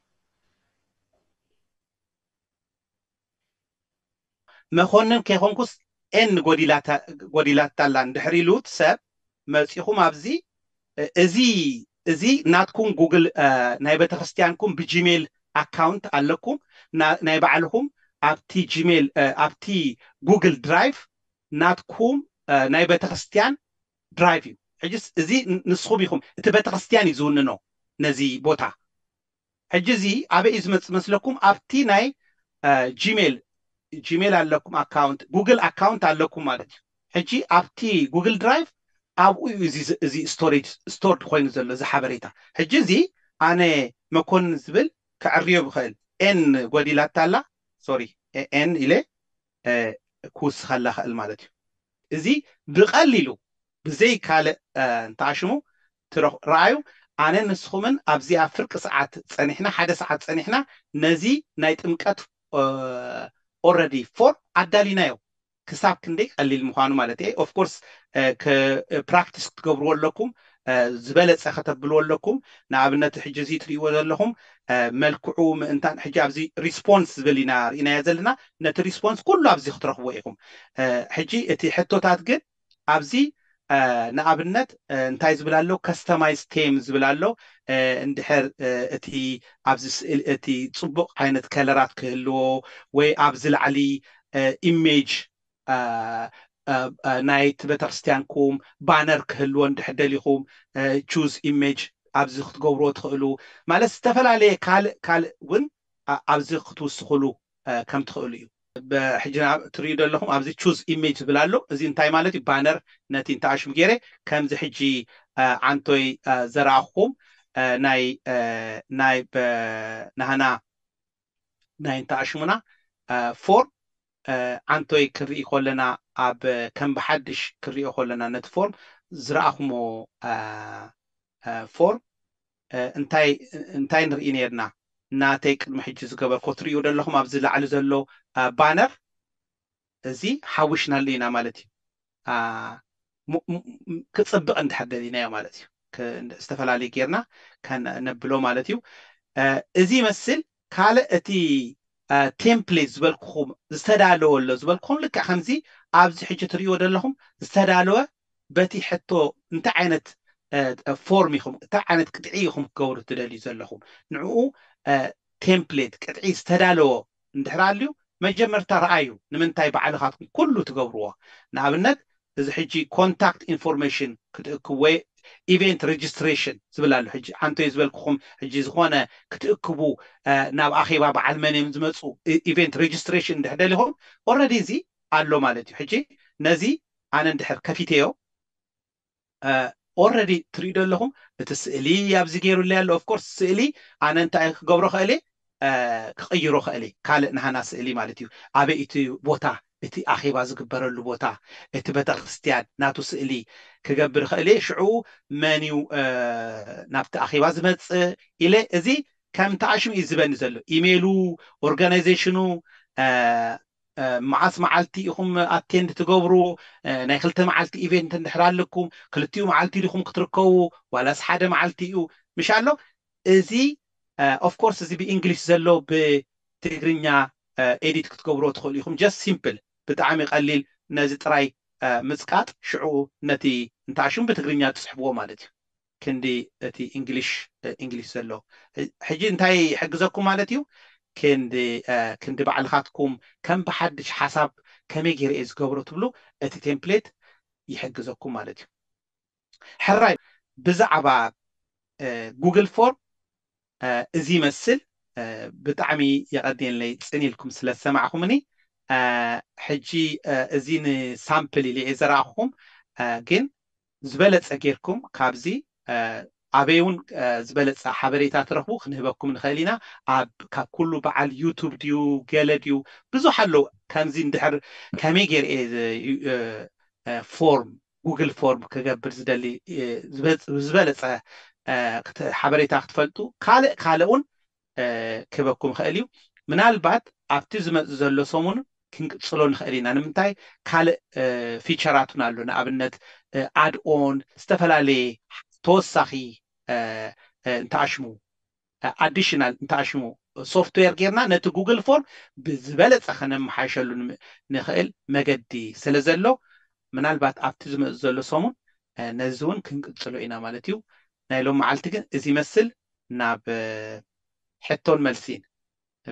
መኮንን ከይኮንኩስ ኤን ጎዲላታላ እንድሕር ኢሉ እቲ ሰብ መጺኹም ኣብዚ እዚ እዚ ናትኩም ጉግል ናይ ቤተክርስትያንኩም ብጂሜል ኣካውንት ኣለኩም ናይ ባዕልኹም ኣብቲ ጂሜል ኣብቲ ጉግል ድራይቭ ናትኩም ናይ ቤተክርስትያን ድራይቭ እዩ ሕጂስ እዚ ንስኹም ኢኹም እቲ ቤተክርስትያን እዩ ዝውንኖ ነዚ ቦታ ሕጂ እዚ ኣበይ እዩ ዝመጽእ መስለኩም ኣብቲ ናይ ጂሜል ጂሜል ኣለኩም ኣካውንት ጉግል ኣካውንት ኣለኩም ማለት እዩ ሕጂ ኣብቲ ጉግል ድራይቭ ኣብኡ እዩ እዚ እዚ ስቶሬጅ ስቶርድ ኮይኑ ዘሎ እዚ ሓበሬታ ሕጂ እዚ ኣነ መኮንን ዝብል ከዕርዮ ብኽእል ኤን ጎዲላታ ኣላ ሶሪ ኤን ኢለ ክውስኸላ ኽእል ማለት እዩ እዚ ብቐሊሉ ብዘይ ካልእ እንተኣሽሙ ትረኽ ርኣዩ ኣነ ንስኹምን ኣብዚኣ ፍርቂ ሰዓት ጸኒሕና ሓደ ሰዓት ጸኒሕና ነዚ ናይ ጥምቀት ኦረዲ ፎርም ኣዳሊናዮ ክሳብ ክንደይ ቀሊል ምዃኑ ማለት እየ ኦፍ ኮርስ ፕራክቲስ ክትገብርዎ ኣለኩም ዝበለጸ ከተብልዎ ኣለኩም ንኣብነት ሕጂ እዚ ትርእይዎ ዘለኹም መልክዑ ምእንታን ሕጂ ኣብዚ ሪስፖንስ ዝብል ኢና ርኢናዮ ዘለና ነቲ ሪስፖንስ ኩሉ ኣብዚ ክትረኽብዎ ኢኹም ሕጂ እቲ ሕቶታት ግን ኣብዚ ንኣብነት እንታይ ዝብል ኣሎ ከስተማይዝ ቴም ዝብል ኣሎ እንድሕር እቲ ኣብዚ ስእሊ እቲ ጽቡቕ ዓይነት ከለራት ክህልዎ ወይ ኣብዚ ላዕሊ ኢሜጅ ናይቲ ቤተክርስትያንኩም ባነር ክህልዎ እንድሕር ደሊኹም ቹዝ ኢሜጅ ኣብዚ ክትገብርዎ ትኽእሉ ማለት ዝተፈላለየ ካልእ ካልእ እውን ኣብዚ ክትውስኽሉ ከም ትክእሉ እዩ። ሕጂ ናብ ትርእዩ ዘለኹም ኣብዚ choose image ዝብል ኣሎ እዚ እንታይ ማለት እዩ ባነር ነቲ እንተ ኣሽም ጌረ ከምዚ ሕጂ ዓንቶይ ዘርኣኹኹም ናይ ናይ ናህና ናይ እንተ ኣሽሙና ፎርም ዓንቶይ ክንርኢ ኮለና ኣብ ከም ብሓድሽ ክንሪኦ ኮለና ነቲ ፎርም ዝርኣኹሞ ፎርም እንታይ እንታይ ንርኢ ኔርና ናተይ ቅድሚ ሕጂ ዝገበርክዎ ትርእይዎ ዶ ኣለኹም ኣብዚ ላዕሊ ዘሎ ባነር እዚ ሓዊስናሉ ኢና ማለት እዩ ም ም ክጽብቅ እንድሕር ደሊናዮ ማለት እዩ ክ ዝተፈላለዩ ጌርና ከነብሎ ማለት እዩ እዚ ይመስል ካልእ እቲ ቴምፕሌት ዝበልኩኹም ዝተዳለወ ኣሎ ዝበልኩኹም ልክዕ ከምዚ ኣብዚ ሕጂ ትርእይዎ ዘለኹም ዝተዳለወ በቲ ሕቶ እንታይ ዓይነት ፎርም ኢኹም እንታይ ዓይነት ቅጥዒ ኢኹም ክገብሩ ትደልዩ ዘለኹም ንዕኡ ቴምፕሌት ቅጥዒ ዝተዳለወ እንድሕር ኣልዩ መጀመርታ ረኣዩ ንምንታይ ባዕልኻትኩም ኩሉ ትገብርዎ ንኣብነት እዚ ሕጂ ኮንታክት ኢንፎርሜሽን ክትእክብ ወይ ኢቨንት ረጅስትሬሽን ዝብል ኣሎ ሕጂ ኣንተይ ዝበልኩኹም ሕጂ ዝኾነ ክትእክቡ ናብ ኣኼባ በዓል መን እዮም ዝመጹ ኢቨንት ረጅስትሬሽን እንድሕር ደሊኹም ኦረዲ እዚ ኣሎ ማለት እዩ ሕጂ ነዚ ኣነ እንድሕር ከፊተዮ ኦረዲ ትሪኡ ደለኹም እቲ ስእሊ ኣብዚ ገይሩለይ ኣሎ ኦፍኮርስ ስእሊ ኣነ እንታይ ክገብሮ ክእል እየ ክቕይሮ እኽእል እየ፣ ካልእ ንሃና ስእሊ ማለት እዩ፣ ኣበይ እቲ ቦታ እቲ ኣኼባ ዝግበረሉ ቦታ እቲ በተክርስትያን ናቱ ስእሊ ክገብር እኽእል እየ፣ ሽዑ መን እዩ ናብቲ ኣኼባ ዝመጽእ ኢለ እዚ ከም ተኣሽሙ እዩ ዝህበኒ ዘሎ፣ ኢሜሉ ኦርጋናይዘሽኑ መዓስ መዓልቲ ኢኹም ኣቴንድ ትገብሩ፣ ናይ ክልተ መዓልቲ ኢቬንት እንድሕር ኣለኩም ክልቲኡ መዓልቲ ዲኹም ክትርከቡ ዋላስ ሓደ መዓልቲ እዩ ምሽ ኣሎ፣ እዚ ኦፍ ኮርስ እዚ ብኢንግሊሽ ዘሎ ብትግርኛ ኤዲት ክትገብርዎ ትኽእሉ ኢኹም ጀስት ሲምፕል ብጣዕሚ ቀሊል ነዚ ጥራይ ምጽቃጥ ሽዑ ነቲ እንተ ሽሙ ብትግርኛ ትጽሕፍዎ ማለት እዩ ክንዲ እቲ ኢንግሊሽ ኢንግሊሽ ዘሎ ሕጂ እንታይ ይሕግዘኩም ማለት እዩ ክንዲ ክንዲ ባዕልኻትኩም ከም ብሓድሽ ሓሳብ ከመይ ጌረ እየ ዝገብሮ ትብሉ እቲ ቴምፕሌት ይሕግዘኩም ማለት እዩ። ሕራይ ብዛዕባ ጉግል ፎርም እዚ ይመስል ብጣዕሚ የቀንየለይ ጽን ኢልኩም ስለ ዝሰማዕኹምኒ ሕጂ እዚ ንሳምፕል ኢለ እየ ዘርኣኹኹም ግን ዝበለጸ ጌርኩም ካብዚ ኣበይ እውን ዝበለጸ ሓበሬታ ትረኽቡ ክንህበኩም ንኽእል ኢና ኣብ ካብ ኩሉ በዓል ዩቱብ ድዩ ገለ ድዩ ብዙሕ ኣለዉ ከምዚ እንድሕር ከመይ ጌር እየ ፎርም ጉግል ፎርም ክገብር ዝደሊ ዝበለፀ ሓበሬታ ክትፈልጡ ካልእ ካልእ እውን ክህበኩም ይኽእል እዩ ምናልባት ኣብቲ ዝመፅእ ዘሎ ሰሙን ክንቅፅሎ ንኽእል ኢና ንምንታይ ካልእ ፊቸራት እውን ኣሎ ንኣብነት ኣድኦን ዝተፈላለየ ተወሳኺ እንተኣሽሙ ኣዲሽናል እንተኣሽሙ ሶፍትዌር ጌርና ነቲ ጉግል ፎርም ብዝበለፀ ከነመሓይሸሉ ንኽእል መገዲ ስለዘሎ ምናልባት ኣብቲ ዝመፅእ ዘሎ ሰሙን ነዚ እውን ክንቅፅሎ ኢና ማለት እዩ። ናይ ሎሚ መዓልቲ ግን እዚ ይመስል ናብ ሕቶን መልሲን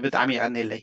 ብጣዕሚ የቐኔለይ።